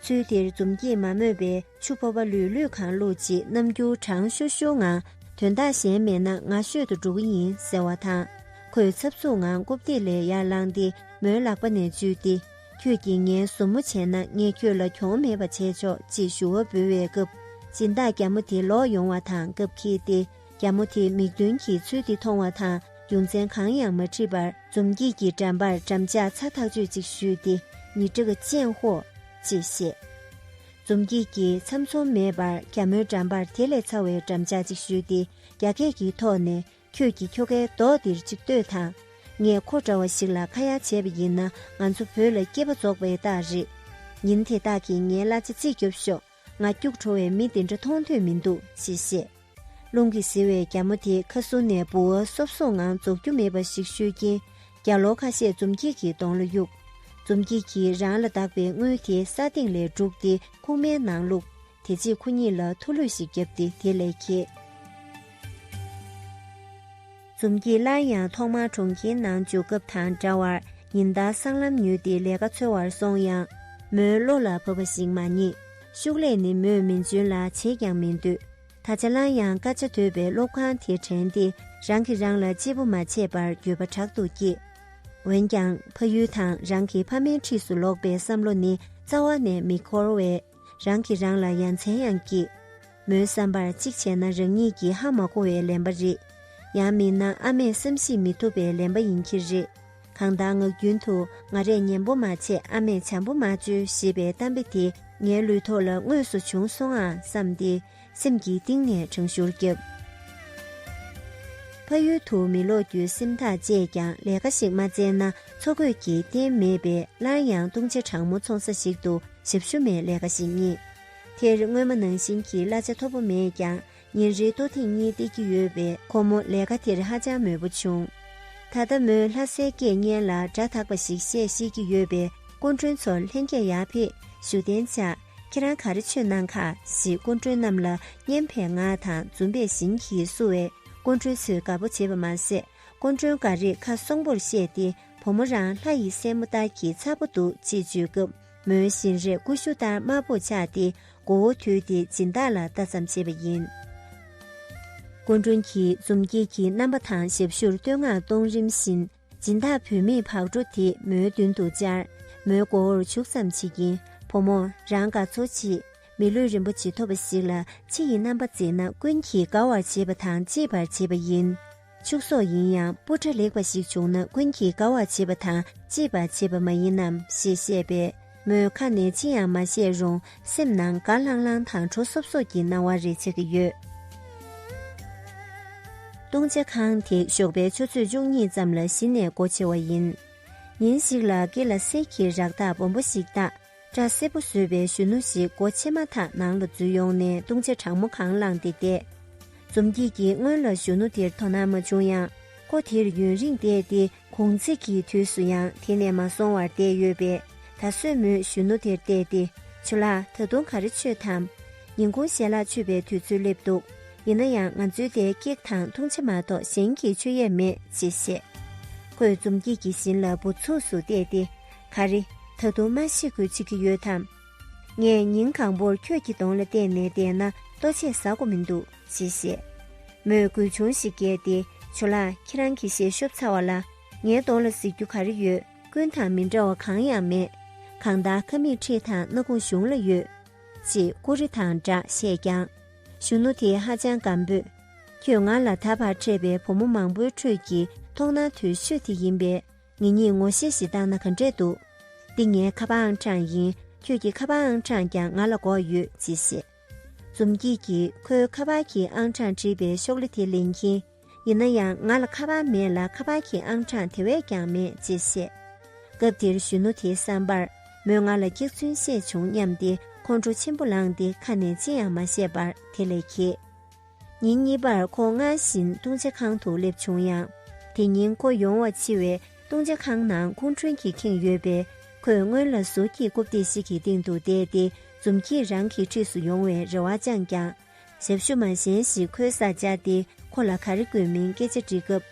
ཚུལ་དེར་འཛུམ་གྱིས་མ་སྨོས་པས་ཆུ་ཕོ་བ་ལུས་ལུས་གང་བླུག་ཅིག་རྣམ་འགྱུར་གྲང་ཤུར་ཤུར་ངང་དོན་དག་གཞན་མེད་ན་ང་ཤོད་དུ་འགྲོ་གི་ཡིན་ཟེར་བ་དང། ཁོས་འཚབ་འཚུབ་ངང་རྐུབ་སྟེགས་ལས་ཡར་བླངས་ཏེ་མོའི་ལག་པ་ནས་འཇུས་ཏེ། ཁྱོད་ཀྱིས་ངའི་བཟོ་མོ་བྱས་ན་ངས་ཁྱོད་ལ་གྱོང་མེད་པ་བྱས་ཆོག་ཅེས་ཞུ་བ་འབུལ་བའི་སྐབས་སྦྱིན་བདག་རྒྱ་མོ་དེ་ལོག་ཡོང་བ་དང་སྐབས་ཁེལ་ཏེ་རྒྱ་མོ་དེས་མིག་མདུན་གྱི་ཚུལ་དེ་མཐོང་བ་དང་རྒྱུ་མཚན་གང་ཡང་མ་དྲིས་པར་འཛུམ་སྐྱིད་ཀྱིས་འགྲམ་པར་འགྲམ་ལྕག་ཚ་ཐག་ཆོད་ཅིག་གཞུས་ཏེ་ནི་ཀྲི་ཀ་ཅན་ཧོ། ཅེས་བཤད། འཛུམ་སྐྱིད་ཀྱིས་ཚམ་ཚོམ་མེད་པར་རྒྱ་མོའི་འགྲམ་པར་དེ་ལས་ཚ་བའི་འགྲམ་ལྕག་ཅིག་གཞུས་ཏེ་རྒྱ་སྐད་ཀྱིས་ཐོག་ནས་ཁྱོད་ཀྱིས་ཁྱོ་གའི་མདོག་འདིར་ཅིག་ལྟོས་དང། ངས་ཁོ་འདྲ་བ་ཞིག་ལ་ཁ་ཡ་བྱས་པ་ཡིན་ན་ང་ཚོ་བོད་ལ་སྐྱེས་པ་རྫོགས་པའི་རྟགས་རེད། ཉིན་དེ་དག་གིས་ངའི་གླ་ཆ་རྩིས་རྒྱོབ་ཤོག་ང་སྐྱུག་བྲོ་བའི་མི་འདི་འདྲ་མཐོང་ཐོས་མི་འདུག་ཅེས་བཤད། རླུང་གིས་བཟི་བའི་རྒྱ་མོ་དེ་ཁ་སུ་ནས་ལྦུ་བ་སོབ་སོབ་ངང་རྫོགས་རྒྱུ་མེད་པ་ཞིག་བཤོལ་རྐྱེན་རྒྱ་ལོ་ཁ་ཤས་འཛུམ་སྐྱིད་ཀྱི་གདོང་ལ་གཡུགས། འཛུམ་སྐྱིད་ཀྱིས་རང་ལ་བདག་པའི་དངུལ་དེ་ས་སྟེང་ལས་སྒྲུག་སྟེ་ཁུག་མའི་ནང་བླུགས། དེ་རྗེས་ཁོ་གཉིས་ལ་ཐུགས་ལྷོད་ཞིག་བརྒྱབ་སྟེ་དེ་ལས་ཁྱེད། འཛུམ་གྱིས་སླར་ཡང་ཐོག་མར་གྲོང་ཁྱེར་ནང་འཇུག་སྐབས་དང་འདྲ་བར་ཉིན་ལྟར་སྲང་ལམ་ཉུལ་ཏེ་ལས་ཀ་འཚོལ་བར་སོང་ཡང། མོའི་བློ་ལ་བབས་པ་ཞིག་མ་རྙེད། ཤུགས་ལས་ནི་མོས་མིན་འཇོན་ལ་བྱེད་ཀྱང་མི་འདོད། ད་ཆ་སླར་ཡང་དཀའ་སྤྱད་དོད་པའི་སློབ་ཁང་དེ་དྲན་ཏེ་རང་གིས་རང་ལ་གཅེས་པོ་མ་བྱས་པར་འགྱོད་པ་དྲག་ཏུ་སྐྱེས། འོན་ཀྱང་ཕ་ཡུལ་དང་རང་གི་ཕ་མའི་འཁྲིས་སུ་ལོག་པའི་བསམ་བློ་ནི་རྩ་བ་ནས་མི་འཁོར་བས། རང་གིས་རང་ལ་ཡ་མཚན་ཡང་སྐྱེས། མོའི་བསམ་པར་གཅིག་བྱས་ན་རང་ཉིད་ཀྱིས་ཧ་མ་གོ་བའི་ལན་པ་རེད། ཡང་མིན་ན་ཨ་མས་བསམ་གཞིགས་མི་ཐུབ་པའི་ལན་པ་ཡིན་གྱི་རེད། གང་ལྟར་ངག་རྒྱུན་དུ་ང་རས་ཉན་པོ་མ་བྱས་ཨ་མས་བྱམས་པོ་མ་བཅོལ་ཞེས་པའི་གཏམ་དཔེ་དེ་ངའི་ལུས་ཐོག་ལ་དངོས་སུ་བྱུང་སོང་ཨང་བསམས་ཏེ། སེམས་ཀྱི་གཏིང་ནས་དྲང་ཤུར་བརྒྱབ། ཕ་ཡུལ་དུ་མི་ལོག་རྒྱུའི་སེམས་ཐག་བཅད་ཀྱང་ལས་ཀ་ཞིག་མ་བཙལ་ན་འཚོ་གོས་ཀྱི་རྟེན་མེད་པས་སླར་ཡང་བཏུང་བྱ་གྲང་མོ་འཚོང་ས་ཞིག་ཏུ་ཞབས་ཞུ་མའི་ལས་ཀ་ཞིག་རྙེད། དེར་སྔོན་མ་ནང་བཞིན་གྱི་གླ་ཆ་མཐོ་པོ་མེད་ཀྱང་ཉིན་རེའི་ལྟོ་ཐེངས་གཉིས་སྟེར་གྱི་ཡོད་པས་ཁོ་མོ་ལས་ཀ་དེར་ཧ་ཅང་མོས་པོ་བྱུང། ད་ལྟ་མོས་ལྷ་སའི་སྐད་སྙན་ལ་སྒྲ་དག་པ་ཞིག་བཤད་ཤེས་ཀྱི་ཡོད་པས་སྐུ་མགྲོན་ཚོར་ལྷན་རྒྱས་ཡར་ཕེབས་ཞུ་གདན་འཇགས། ཁྱེད་རང་ག་རེ་ཆོས་གནང་ཁ་ཞེས་སྐུ་མགྲོན་རྣམས་ལ་སྙན་པའི་ངག་དང་འཛུམ་པའི་བཞིན་གྱིས་བསུ་བས་སྐུ་མགྲོན་ཚོས་དགའ་པོ་བྱེད་པ་མ་ཟད་སྐུ་མགྲོན་འགའ་རེས་ཁ་སོང་པོར་བཤད་དེ་བུ་མོ་རང་ལྷ་ཡི་སྲས་མོ་ལྟར་གྱི་མཚར་པོ་འདུག་ཅེས་བརྗོད་སྐབས་མོའི་བཞིན་རས་ཀུ་ཤུ་ལྟར་དམར་པོར་ཆགས་ཏེ་མགོ་བོ་དུད་དེ་སྦྱིན་བདག་ལ་ལྟ་ཙམ་བྱེད་པ་ཡིན། སྐུ་མགྲོན་གྱིས་འཛུམ་དཀྱིལ་གྱི་རྣམ་པ་དང་ཞབས་ཞུར་བསྟོད་བསྔགས་གཏོང་རིམ་བཞིན། སྦྱིན་བདག་བུད་མེད་བག་དྲོ་དེ་མོའི་མདུན་དུ་བཅར། མོའི་མགོ་བོར་བྱུག་ཙམ་བྱེད་ཀྱིན་བུ་མོ་རང་དགའ་ཚོར་ཅི། མི་ལུས་རིན་པོ་ཇི་ཐོབ་པ་ཞིག་ལ་ཕྱི་ཡི་རྣམ་པ་མཛེས་ན་ཀུན་གྱིས་དགའ་བར་བྱེད་པ་དང་གཅེས་པར་བྱེད་པ་ཡིན། ཕྱུགས་ཟོག་ཡིན་ཡང་སྤུ་ཁྲ་ལེགས་པ་ཞིག་བྱུང་ན་ཀུན་གྱིས་དགའ་བར་བྱེད་པ་དང་གཅེས་པར་བྱེད་པ་མ་ཡིན་ནམ་ཞེས་བཤད་པས། མོས་ཁ་ནས་ཅི་ཡང་མ་བཤད་རུང་སེམས་ནང་དགའ་ལྷང་ལྷང་དང་དྲོ་སོབ་སོབ་ཀྱི་སྣང་བ་རེ་ཆགས་ཀྱི་ཡོད། བཏུང་བྱ་ཁང་དེ་ཞོགས་པའི་ཆུ་ཚོད་བཅུ་གཉིས་ཙམ་ལ་གཞི་ནས་སྒོ་ཕྱེ་བ་ཡིན། ཉིན་ཞིག་ལ་དགེ་ལ་སེར་གྱི་རག་རྟགས་སྦོམ་པོ་ཞིག་བཏགས་སྐྲ་སེར་པོ་བཟོས་པའི་གཞོན་ནུ་ཞིག་སྒོ་ཕྱེ་མ་ཐག་ནང་ལ་འཛུལ་ཡོང་ནས་བཏུང་བྱ་གྲང་མོ་གང་བླངས་ཏེ་བསྡད། འཛུམ་སྐྱིད་ཀྱིས་སྔོན་ལ་གཞོན་ནུ་དེར་དོ་སྣང་མ་བྱུང་ཡང་ཁོ་དེར་ཡུན་རིང་བསྡད་དེ་གུང་ཚིགས་ཀྱི་དུས་སུ་ཡང་དེ་ནས་མ་སོང་བར་བསྡད་ཡོད་པས་ད་གཟོད་མོས་གཞོན་ནུ་དེར་བལྟས་ཏེ་བྱུ་ལགས་ད་དུང་ག་རེ་ཆོད་དམ། ཉིན་གུང་ཞལ་ལག་མཆོད་པའི་དུས་ཚོད་སླེབས་འདུག་ཡིན་ན་ཡང་ང་ཚོའི་དེ་ཀེག་དང་འཐུང་ཆ་མ་གཏོགས་གཞན་གྱི་མཆོད་ཡས་མེད་ཅེས་བཤད། ཁོས་འཛུམ་སྐྱིད་ཀྱི་བཞིན་ལ་འབུར་ཚུགས་སུ་བལྟས་ཏེ་ག་རེ། ད་དུང་མ་ཤི་དགོས་བྱེད་ཀྱི་ཡོད་དམ། ངས་ཉིན་གང་བོར་ཁྱོད་ཀྱི་གདོང་ལ་བལྟས་ནས་བསྡད་ན་ལྟོ་ཆས་ཟ་གོ་མི་འདུག། ཅེས་བཤད། མོས་དགུན་ཆུང་ཞིག་བསྐྱལ་ཏེ་ཇོ་ལགས་ཁྱེད་རང་གིས་ཞལ་ཤོབ་ཚར་བ་ལ་ངའི་གདོང་ལ་གཟིགས་རྒྱུ་ག་རེ་ཡོད། ཀུན་དང་མི་འདྲ་བ་གང་ཡང་མེད། གང་དག་ཁ་མིག་ཁྲིད་དང་སྣ་ཁུང་གཞུང་ལ་ཡོད། ཅེས་ཀུ་རེ་དང་སྦྲགས་བཤད་ཀྱང། གཞོན་ནུ་དེས་ཧ་ཅང་སྒམ་པོས། ཁྱོད་ང་ལ་ད་བར་འཕྲད་པའི་བུ་མོ་མང་པོའི་ཁྲོད་ཀྱི་ཐོག་ནང་དུ་ཤོས་དེ་ཡིན་པས་ངེད་གཉིས་ངོ་ཤེས་ཤིག་བཏང་ན་ག་འདྲས་འདུག། འདི་ངའི་ཁ་པ་ཨང་གྲངས་ཡིན་ཁྱོད་ཀྱི་ཁ་པ་ཨང་གྲངས་ཀྱང་ང་ལ་འགོག་ཡོད་ཅེས་བཤད། འཛུམ་སྐྱིད་ཀྱིས་ཁོའི་ཁ་པར་གྱི་ཨང་གྲངས་དྲིས་པའི་ཤོག་ལི་དེ་ལེན་གྱིན། ཡིན་ན་ཡང་ང་ལ་ཁ་པར་མེད་ལ་ཁ་པར་གྱི་ཨང་གྲངས་དེ་བས་ཀྱང་མེད་ཅེས་བཤད། སྐབས་དེར་གཞོན་ནུ་དེའི་བསམ་པར་མོས་ང་ལ་སྐྱག་རྫུན་བཤད་བྱུང་སྙམ་སྟེ་ཁོང་ཁྲོ་ཆེན་པོ་ལངས་ཏེ་ཁ་ནས་ཅི་ཡང་མ་བཤད་པར་དེ་ལས་གྱེས། ཉིན་གཉིས་པར་ཁོང་སྔར་བཞིན་ལྟུང་བྱེད་ཁང་དུ་སླེབས་བྱུང་ཡང། དེ་ཉིན་ཁོ་ཡོང་བ་འཕྱི་བས་ལྟུང་བྱེད་ཁང་ནང་ཁུང་ཁྲུན་གྱིས་ཁེངས་ཡོད་པས་ཁོས་སྔོན་ལ་ཟུར་གྱི་རྐུབ་སྟེགས་ཤིག་གི་སྟེང་དུ་བསྡད་དེ་འཛུམ་གྱིས་རང་གི་འཁྲིས་སུ་ཡོང་བའི་རེ་བ་བཅངས་ཀྱང། ཞབས་ཞུ་མ་གཞན་ཞིག་ཁོའི་སར་བཅར་ཏེ་ཁོ་ལ་ག་རེ་དགོས་མིན་སྐད་ཆ་འདྲི་སྐབས།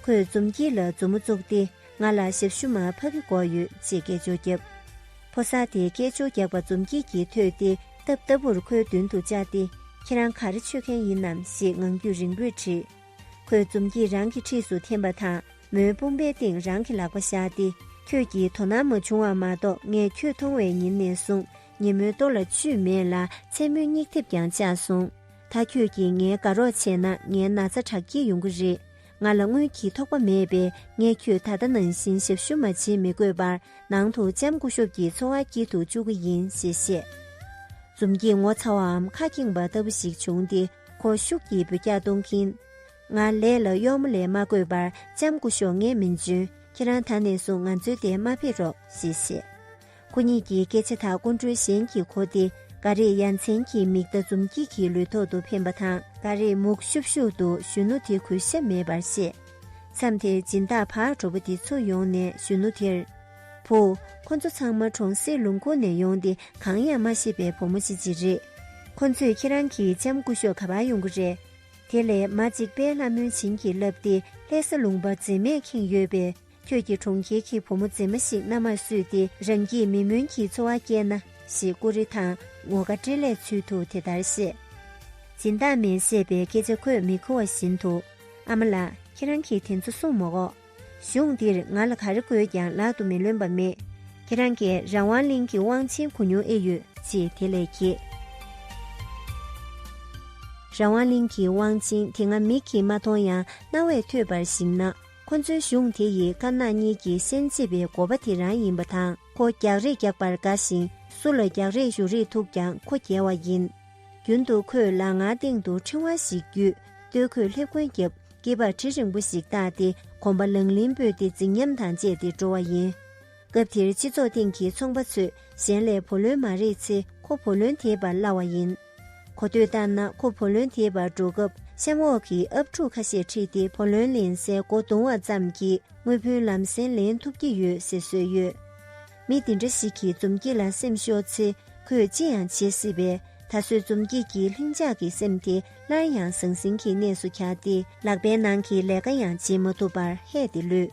ཁོས་འཛུམ་གྱིས་ལ་མཛུབ་མོ་བཙུགས་ཏེ། ང་ལ་ཞབས་ཞུ་མ་ཕ་གི་སྒོ་ཡོད་ཅེས་སྐད་ཅོར་བརྒྱབ། ཕོ་གསར་དེས་སྐད་ཅོར་རྒྱག་པ་འཛུམ་སྐྱིད་ཀྱིས་ཐོས་ཏེ་རྟབ་རྟབ་པོར་ཁོའི་མདུན་དུ་བཅར་ཏེ་ཁྱེད་རང་ག་རེ་མཆོད་མཁན་ཡིན་ནམ་ཞེས་ངང་རྒྱུད་རིང་པོས་དྲིས། ཁོས་འཛུམ་སྐྱིད་རང་གི་འཁྲིས་སུ་འཐེན་པ་དང་མོའི་དཔུང་པའི་སྟེང་རང་གི་ལག་པ་བཞག་སྟེ་ཁྱོད་ཀྱིས་དོ་སྣང་མ་བྱུང་བ་མ་གཏོགས་ངས་ཁྱོད་མཐོང་བའི་ཉིན་ནས་བཟུང་ངས་མོའི་ལྟོ་ལ་བཅུད་མེད་ལ་མཚན་མོའི་སྙིགས་དེབ་ཀྱང་བཅག་སོང། ད་ཁྱོད་ཀྱིས་ངའི་དགའ་རོགས་བྱས་ན་ངའི་ན་ཚ་དྲག་སྐྱེད་ཡོང་གི་རེད། ང་ལ་དངུལ་གྱི་ཐོགས་པ་མེད་པས་ངས་ཁྱོད་ད་ལྟ་ནང་བཞིན་ཞབས་ཞུ་མ་བྱེད་མི་དགོས་པར་ནང་དུ་ལྕམ་སྐུ་ཤོབ་ཀྱི་འཚོ་བ་སྐྱེལ་དུ་བཅུག་གི་ཡིན་ཞེས་བཤད། འཛུམ་གྱིས་ངོ་ཚ་བའམ་ཁ་འཁྱིང་བ་ལྟ་བུ་ཞིག་བྱུང་སྟེ་ཁོ་ཤུགས་ཀྱིས་འབོད་སྐྱག་གཏོང་གིན། ང་ལས་ལ་གཡོག་མོ་ལས་མ་དགོས་པར་ལྕམ་སྐུ་ཤོག་ངས་མི་འཇོན་ཁྱེད་རང་ད་ནས་བཟུང་ང་འཛོལ་ཏེ་མ་ཕེབས་རོགས་ཞེས་བཤད། ཁོ་གཉིས་ཀྱི་སྐད་ཆ་དག་ཀུན་གྲོལ་གཞན་གྱིས་གོ་སྟེ་འགའ་རེས་ཡ་མཚན་གྱི་མིག་བརྡ་འཛུམ་སྐྱིད་ཀྱི་ལུས་ཐོག་ཏུ་འཕེན་པ་དང། འགའ་རེས་མུག་ཤུབ་ཤུབ་ཏུ་གཞོན་ནུ་དེ་གུས་ཞབས་མེད་པར་བཤད། མཚམས་དེར་སྦྱིན་བདག་ཕ་གྲོ་པོ་དེ་ཚུར་ཡོང་ནས་གཞོན་ནུ་དེར། བུ། ཁོ་ཚོ་ཚང་མ་གྲོང་གསེབ་ལུང་ཁུག་ནས་ཡོང་སྟེ་གང་ཡང་མ་ཤེས་པའི་བུ་མོ་གཅིག་ཅིག་རེད། ཁོ་ཚོས་ཁྱེད་རང་གི་ལྕམ་སྐུ་ཤོག་ག་པར་ཡོང་གི་རེད། དེ་ལས་མ་གཅིག་པས་ལྷ་མོའི་བྱིན་གྱིས་བརླབས་ཏེ་ལྷས་ས་ལུང་པ་འཛེམ་མེད་ཁེངས་ཡོད་པས། ཁྱོད་ཀྱིས་གྲོང་ཁྱེར་གྱི་བུ་མོ་མཛེས་མ་ཞིག་མནའ་མར་བསུས་ཏེ་རང་གིས་མི་སྨོན་གྱི་འཚོ་བ་བསྐྱལ་ན། ཞེས་ཀུ་རེ་དང་ངོ་དགའ་སྤྲེལ་ལད་ཚུལ་དུ་དེ་ལྟར་བཤད། སྦྱིན་བདག་མས་བཤད་པའི་སྐད་ཆ་ཁོས་མི་གོ་བ་བཞིན་དུ། ཨ་མ་ལགས་ཁྱེད་རང་གིས་དེ་ཚོ་གསུངས་མ་འོག། གཞུང་འདིར་ང་ལ་ག་རེ་དགོས་ཀྱང་ལག་ཏུ་མི་ལོན་པ་མེད། ཁྱེད་རང་གིས་རང་དབང་གླིང་གི་དབང་ཆེན་གོ་མྱོང་ཨེ་ཡོད། ཅེས་དེ་ལས་གྱེས། རང་དབང་གླིང་གི་དབང་ཆེན་དེ་ང་མིག་གིས་མ་མཐོང་ཡང་རྣ་བས་ཐོས་པར་གཞིགས་ན། ཁོ་ཚོའི་གཞུང་དེ་ཡིས་དཀར་ནག་གཉིས་ཀྱི་སེམས་བརྩེ་བའི་འགོ་པ་དེ་རང་ཡིན་པ་དང་ཁོ་རྒྱག་རེས་རྒྱག་པར་དགའ་ཞིང་སུ་ལ་རྒྱག་རེས་ཞུ་རེས་ཐུག་ཀྱང་ཁོ་རྒྱལ་བ་ཡིན། རྒྱུན་དུ་ཁོས་ལག་ངར་སྟེང་དུ་ཕྲེང་བ་ཞིག་བརྒྱུས་ལྟོས་ཁོས་སླེབས་གོན་བརྒྱབ་སྐེད་པར་གྲི་རིང་པོ་ཞིག་བཏགས་ཏེ་གོམ་པ་ལང་ལིང་སྤོས་ཏེ་རྫིག་ཉམས་དང་བཅས་ཏེ་འགྲོ་བ་ཡིན། སྐབས་དེར་སྤྱི་ཚོགས་སྟེང་གི་ཚོང་པ་ཚོས་གཞན་ལས་བུ་ལོན་མ་རེག་ཚེ་ཁོ་བུ་ལོན་དེད་པར་སླ་བ་ཡིན། གོ་ཐོས་ལྟར་ན་ཁོ་བུ་ལོན་དེད་པར་འགྲོ་སྐབས་གཤམ་འོག་གི་ཨབ་ཕྲུག་ཁ་ཤས་ཁྲིད་དེ་བུ་ལོན་ལེན་སའི་སྒོ་རྡུང་བ་ཙམ་གྱིས་དངུལ་བུན་ལམ་སེང་ལེན་ཐུབ་ཀྱི་ཡོད་ཟེར་སྲོལ་ཡོད། མི་འདི་འདྲ་ཞིག་གིས་འཛུམ་སྐྱིད་ལ་སེམས་ཤོར་ཚེ་ཁོས་ཅི་ཡང་བྱེད་སྲིད་པས་ད་གཟོད་འཛུམ་སྐྱིད་ཀྱིས་ལྷིང་འཇགས་ཀྱི་སེམས་དེ་སླར་ཡང་ཟང་ཟིང་གི་གནས་སུ་གྱར་ཏེ་ལག་པའི་ནང་གི་ལས་ཀ་ཡང་བྱེད་མ་ཐུབ་པར་ཧད་དེ་ལུས།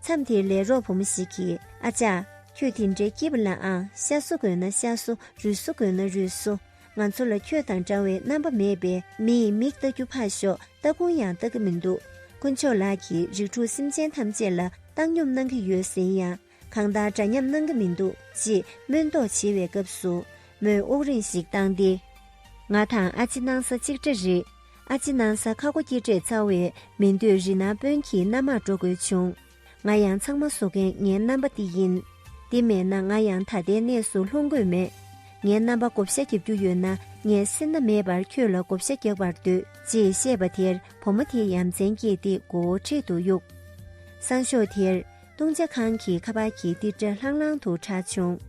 མཚམས་དེར་ལས་རོགས་བུ་མོ་ཞིག་གིས་ཨ་ཅག། ཁྱོད་དེ་འདྲའི་སྐྱིད་ལའང་ཤ་བཟོ་དགོས་ན་ཤ་བཟོ་རུས་བཟོ་དགོས་ན་རུས་བཟོ། ང་ཚོ་ལ་ཁྱོད་དང་འདྲ་བའི་རྣམ་པ་མེད་པས་མིའི་མིག་ལྟ་རྒྱུ་ཕར་ཞོག་ལྟ་ཁུང་ཡང་ལྟ་གི་མི་འདུག་དཀོན་མཆོག་ལགས་ཀྱིས་རིགས་དྲུག་སེམས་ཅན་ཐམས་ཅད་ལ་བཏང་སྙོམས་གནང་གི་ཡོད་ཟེར་ཡང་གང་ལྟར་འདྲ་མཉམ་གནང་གི་མི་འདུག་ཅེས་སྨོན་མདོག་བྱེད་བའི་སྐབས་སུ་མོས་དབུགས་རིང་ཞིག་བཏང་སྟེ། ང་དང་ཨ་ཅེ་སྣང་ས་གཅིག་འདྲ་རེད། ཨ་ཅེ་སྣང་ས་ཁ་སྒོ་སྐྱེ་འབྲས་རྩ་བས་མི་འདོད་རི་ནང་དཔོན་གྱི་མནའ་མར་འགྲོ་དགོས་བྱུང། ང་ཡང་ཚང་མ་བཟོ་མཁན་ངའི་རྣམ་པ་འདི་ཡིན། འདི་མེད་ན་ང་ཡང་ད་ལྟའི་གནས་སུ་ལྷུང་དགོས་མེད། ངའི་རྣམ་པ་བགོ་བཤའ་རྒྱབ་རྒྱུ་ཡོད་ན་ངས་སེར་སྣ་མེད་པར་ཁྱོད་ལ་བགོ་བཤའ་རྒྱག་པར་འདོད་ཅེས་བཤད་པ་དེར་བུ་མོ་དེ་ཡ་མཚན་སྐྱེས་ཏེ་མགོ་བོ་འཕྲེད་དུ་གཡུགས། སང་ཞོགས་དེར། བཏུང་བྱ་ཁང་གི་ཁ་པར་གྱི་ཏིར་སྒྲ་ལྷང་ལྷང་དུ་གྲགས་བྱུང།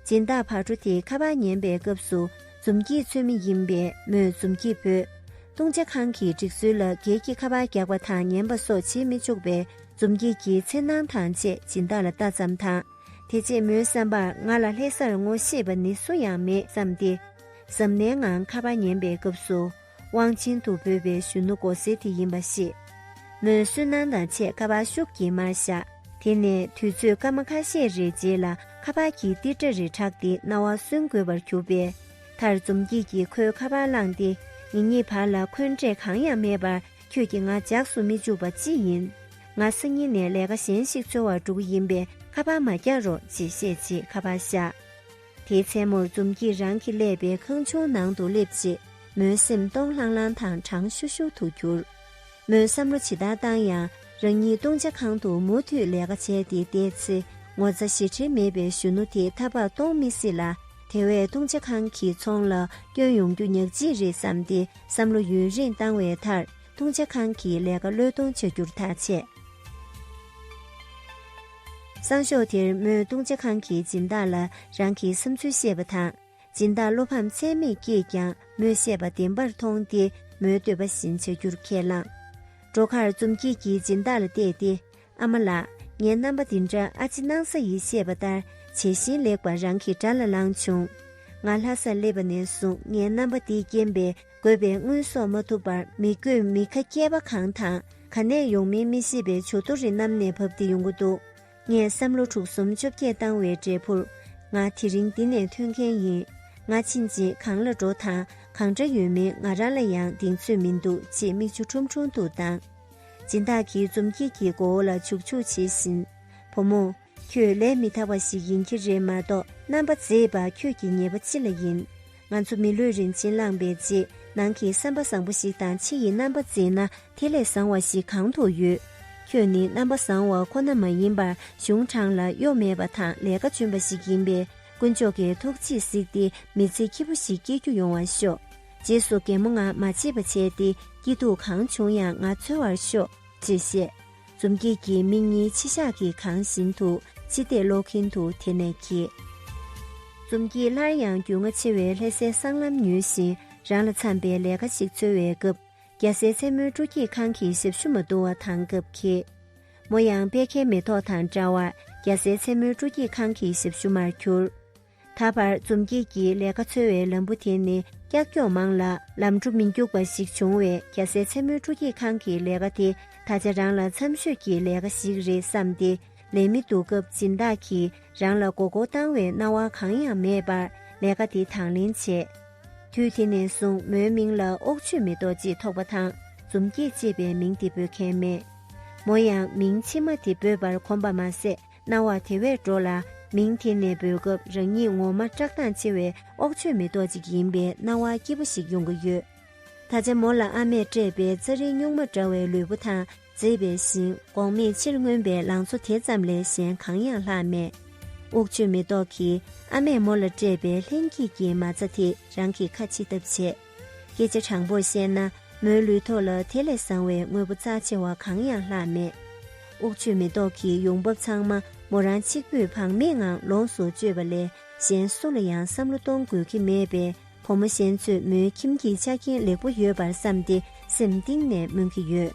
སྦྱིན་བདག་ཕར་འགྲོ་དེ་ཁ་པར་ཉན་པའི་སྐབས་སུ་འཛུམ་གྱིས་མཚོན་མི་ཡིན་པས་མོས་འཛུམ་གྱིས་བོས། བཏུང་བྱ་ཁང་གི་སྒྲིག་སྲོལ་ལ་གེགས་ཀྱི་ཁ་པར་རྒྱག་པ་དང་ཉན་པ་སོགས་བྱེད་མི་ཆོག་པས་འཛུམ་གྱིས་ཀྱི་འཚེར་སྣང་དང་བཅས་སྦྱིན་བདག་ལ་ལྟ་ཙམ་དང། དེ་རྗེས་མོའི་བསམ་པར་ང་ལ་ལྷེ་སར་ངོ་ཤེས་པ་ནི་སུ་ཡང་མེད་བསམས་ཏེ། གཟབ་ནན་ངང་ཁ་པར་ཉན་པའི་སྐབས་སུ། དབང་ཆེན་དུ་འབོད་པའི་གཞོན་ནུ་མགོ་སེར་དེ་ཡིན་པ་ཤེས། མོས་བསུན་སྣང་དང་ཆེད་ཁ་བར་ཤུགས་ཀྱིས་མར་བཞག་དེ་ནས་དུས་ཚོད་སྐར་མ་ཁ་ཤས་རེའི་རྗེས་ལ་ཁ་བར་གྱི་ཏིར་སྒྲ་རེ་གྲགས་ཏེ་རྣ་བ་སུན་དགོས་པར་གྱུར་པས། མཐར་འཛུམ་སྐྱིད་ཀྱིས་ཁོའི་ཁ་བར་བླངས་ཏེ་ངེད་གཉིས་བར་ལ་འཁོན་འགྲས་གང་ཡང་མེད་པར་ཁྱོད་ཀྱིས་ང་འཇགས་སུ་མི་བཅུག་པ་ཅི་ཡིན། ང་སང་ཉིན་ནས་ལས་ཀ་གཞན་ཞིག་འཚོལ་བར་འགྲོ་གི་ཡིན་པས་ཁ་བར་མ་རྒྱག་རོགས་ཅེས་བཤད་རྗེས་ཁ་བར་བཞག། དེའི་མཚན་མོར་འཛུམ་གྱིས་རང་གི་ཀླད་པའི་ཁང་ཆུང་ནང་དུ་སླེབས་རྗེས་མོའི་སེམས་སྟོང་ལྷང་ལྷང་དང་གྲང་ཤུར་ཤུར་དུ་གྱུར། མོས་བསམ་བློ་ཇི་ལྟར་བཏང་ཡང་རང་ཉིད་བཏུང་བྱ་ཁང་དུ་མུ་མཐུད་ལས་ཀ་བྱས་ཏེ་བསྡད་ཚེ་ངོ་ཚ་ཞེ་ཁྲེལ་མེད་པའི་གཞོན་ནུ་དེ་ཐ་བག་གཏོང་མི་སྲིད་ལ་དེ་བས་བཏུང་བྱ་ཁང་གི་ཚོང་ལ་སྐྱོན་ཡོང་རྒྱུ་ཉག་ཅིག་རེད་བསམ་སྟེ་བསམ་བློ་ཡུན་རིང་བཏང་བའི་མཐར་བཏུང་བྱ་ཁང་གི་ལས་ཀ་བློས་གཏོང་བྱ་རྒྱུར་ཐག་བཅད། སང་ཞོགས་དེར་མོས་བཏུང་བྱ་ཁང་གི་སྦྱིན་བདག་ལ་རང་གི་བསམ་ཚུལ་བཤད་པ་དང། སྦྱིན་བདག་བློ་ཕམ་ཚད་མེད་ཀྱིས་ཀྱང་མོས་བཤད་པ་བདེན་པར་མཐོང་སྟེ་མོའི་འདོད་པ་བཞིན་བྱ་རྒྱུར་ཁས་བླངས། འགྲོ་ཁར་འཛུམ་སྐྱིད་ཀྱིས་སྦྱིན་བདག་ལ་བལྟས་ཏེ། ཨ་མ་ལགས་ངའི་རྣམ་པ་འདི་འདྲ་ཨ་ཕྱི་སྣང་ས་ཡིས་བཤད་པ་ལྟར་བྱད་བཞིན་ལེགས་པར་རང་གི་དགྲ་ལ་ལངས་བྱུང། ང་ལྷ་སར་སླེབས་པ་ནས་བཟུང་ངའི་རྣམ་པ་འདི་རྐྱེན་པས་དགོས་པའི་དངུལ་སོགས་མ་ཐུབ་པར་མི་དགོས་མི་ཁ་སྐྱེས་པ་གང་དང་ག་ནས་ཡོང་མིན་མི་ཤེས་པའི་བྱུ་དོ་རི་གནམ་ནས་བབས་ཏེ་ཡོང་གི་འདུག་ངས་བསམ་བློ་དྲུག་གསུམ་བཅོ་བརྒྱད་བཏང་བའི་འབྲས་བུར། ང་དེ་རིང་འདི་ནས་ཐོན་མཁན་ཡིན། ང་ཕྱིན་རྗེས་གང་ལ་འགྲོ་དང་གང་འདྲ་ཡོད་མིན་ང་རང་ལ་ཡང་གདེང་ཚོད་མི་འདུག་ཅེས་མིག་ཆུ་ཁྲུམ་ཁྲུམ་དུ་བཏང། སྦྱིན་བདག་གིས་འཛུམ་སྐྱིད་ཀྱི་མགོ་བོ་ལ་བྱུག་བྱུག་བྱེད་བཞིན། བུ་མོ། ཁྱོད་ལས་མི་ཐར་བ་ཞིག་ཡིན་གྱི་རེད་མ་གཏོགས་རྣམ་པ་མཛེས་པ་ཁྱོད་ཀྱི་ཉེས་པ་ཅི་ལ་ཡིན། ང་ཚོ་མི་ལུས་རིན་ཆེན་བླངས་པའི་རྗེས་གནང་གི་བསམ་པ་བཟང་པོ་ཞིག་དང་ཕྱི་ཡི་རྣམ་པ་མཛེས་ན་དེ་ལས་བཟང་བ་ཞིག་གང་དུ་ཡོད། ཁྱོད་ནི་རྣམ་པ་བཟང་བ་ཁོ་ན་མ་ཡིན་པར་གཞུང་དྲང་ལ་གཡོ་མེད་པ་དང་ལས་ཀ་འཇོན་པ་ཞིག་ཡིན་པས་དཀོན་མཆོག་གི་ཐུགས་རྗེས་གཟིགས་ཏེ་མི་ཚེ་སྐྱིད་པོ་ཞིག་སྐྱེལ་རྒྱུ་ཡོང་བར་ཤོག། རྗེས་སུ་རྒན་མོ་ང་མ་བྱེད་པ་བྱས་ཏེ་སྐྱིད་སྡུག་གང་བྱུང་ཡང་ང་འཚོལ་བར་ཤོག་ཅེས་བཤད། འཛུམ་སྐྱིད་ཀྱིས་མིག་གཉིས་མཆི་ཞག་གིས་གང་བཞིན་དུ་ཕྱི་བལྟས་ཀློག་གིན་འདུག་དེ་ནས་ཁྱེད། འཛུམ་སྐྱིད་སླར་ཡང་རྒྱུས་མངའ་ཆེ་བའི་ལྷེ་སའི་སྲང་ལམ་ཉུལ་བཞིན་རང་ལ་འཚམས་པའི་ལས་ཀ་ཞིག་འཚོལ་བའི་སྐབས་རྒྱ་སེའི་མཚན་མོའི་སྤྲོ་སྐྱིད་ཁང་གི་ཞབས་ཞུ་མ་བསྡུ་བ་དང་སྐབས་ཁྱེད། མོ་ཡང་དཔལ་ཁའི་མེ་ཏོག་དང་འདྲ་བར་རྒྱ་སེའི་མཚན་མོའི་སྤྲོ་སྐྱིད་ཁང་གི་ཞབས་ཞུ་མར་གྱུར། ད་བར་འཛོམས་སྐྱིད་ཀྱི་ལས་ཀ་འཚོལ་བའི་ལམ་བུ་དེ་ནི་ཀྱག་ཀྱོག་མང་ལ་ལམ་འགྲོ་མི་འགྱུག་པ་ཞིག་བྱུང་བས་རྒྱལ་སའི་མཚན་མོའི་སྤྲོ་སྐྱིད་ཁང་གི་ལས་ཀ་དེ་ད་ཆ་རང་ལ་འཚམས་ཤོས་ཀྱི་ལས་ཀ་ཞིག་རེད་བསམས་ཏེ་ལས་མི་འདུག་སྐབས་སྦྱིན་བདག་གིས་རང་ལ་མགོ་སྐོར་བཏང་བའི་སྣང་བ་གང་ཡང་མེད་པར་ལས་ཀ་དེ་དང་ལེན་བྱས། དུས་དེ་ནས་བཟུང་མོའི་མིང་ལ་ཨོག་ཆོས་མེ་ཏོག་ཅེས་ཐོགས་པ་དང་འཛོམས་སྐྱིད་ཅེས་པའི་མིང་དེ་འབོད་མཁན་མེད། མོ་ཡང་མིང་ཕྱི་མ་དེ་འབོད་པར་གོམས་པ་མ་ཟད་སྣང་བ་དེ་བས་འགྲོ་ལ། མིང་དེ་ནས་འབོད་སྐབས་རང་ཉིད་ངོ་མ་བཀྲག་མདངས་ཆེ་བའི་ཨོག་ཆོས་མེ་ཏོག་ཅིག་ཡིན་པའི་སྣང་བ་སྐྱིད་པོ་ཞིག་ཡོང་གི་ཡོད། ད་ཆ་མོ་ལ་ཨ་མས་སྤྲད་པའི་རྩྭ་རིའི་སྨྱུག་མ་འདྲ་བའི་ལུས་པོ་དང་མཛེས་པའི་ཤིང་སྒོང་མེད་ཕྱིར་མངོན་པའི་ལང་ཚོ་དེ་ཙམ་ལས་གཞན་གང་ཡང་ལྷག་མེད། ཨོག་ཆོས་མེ་ཏོག་གིས་ཨ་མས་མོ་ལ་སྤྲད་པའི་ལྷན་སྐྱེས་ཀྱི་མ་རྩ་དེས་རང་གི་ཁ་འཆི་ཐབས་བྱེད། སྐད་ཆ་དྲང་པོར་བཤད་ན་མོའི་ལུས་ཐོག་ལ་དེ་ལས་བཟང་བའི་དངོས་པོ་རྩ་ཆེ་བ་གང་ཡང་ལྷག་མེད། དབུགས་ཆུ་མེ་ཏོག་གི་ཡོང་འབབ་ཚང་མ་མོ་རང་གཅིག་པུས་བག་མེད་ངང་ལོངས་སུ་སྤྱོད་པ་ལས་གཞན་སུ་ལ་ཡང་བསམ་བློ་གཏོང་དགོས་ཀྱི་མེད་པས་བུ་མོ་གཞན་ཚོས་མོའི་ཁྱིམ་གྱི་ཆ་རྐྱེན་ལེགས་པོ་ཡོད་པར་བསམ་སྟེ་སེམས་གཏིང་ནས་སྨོན་གྱི་ཡོད།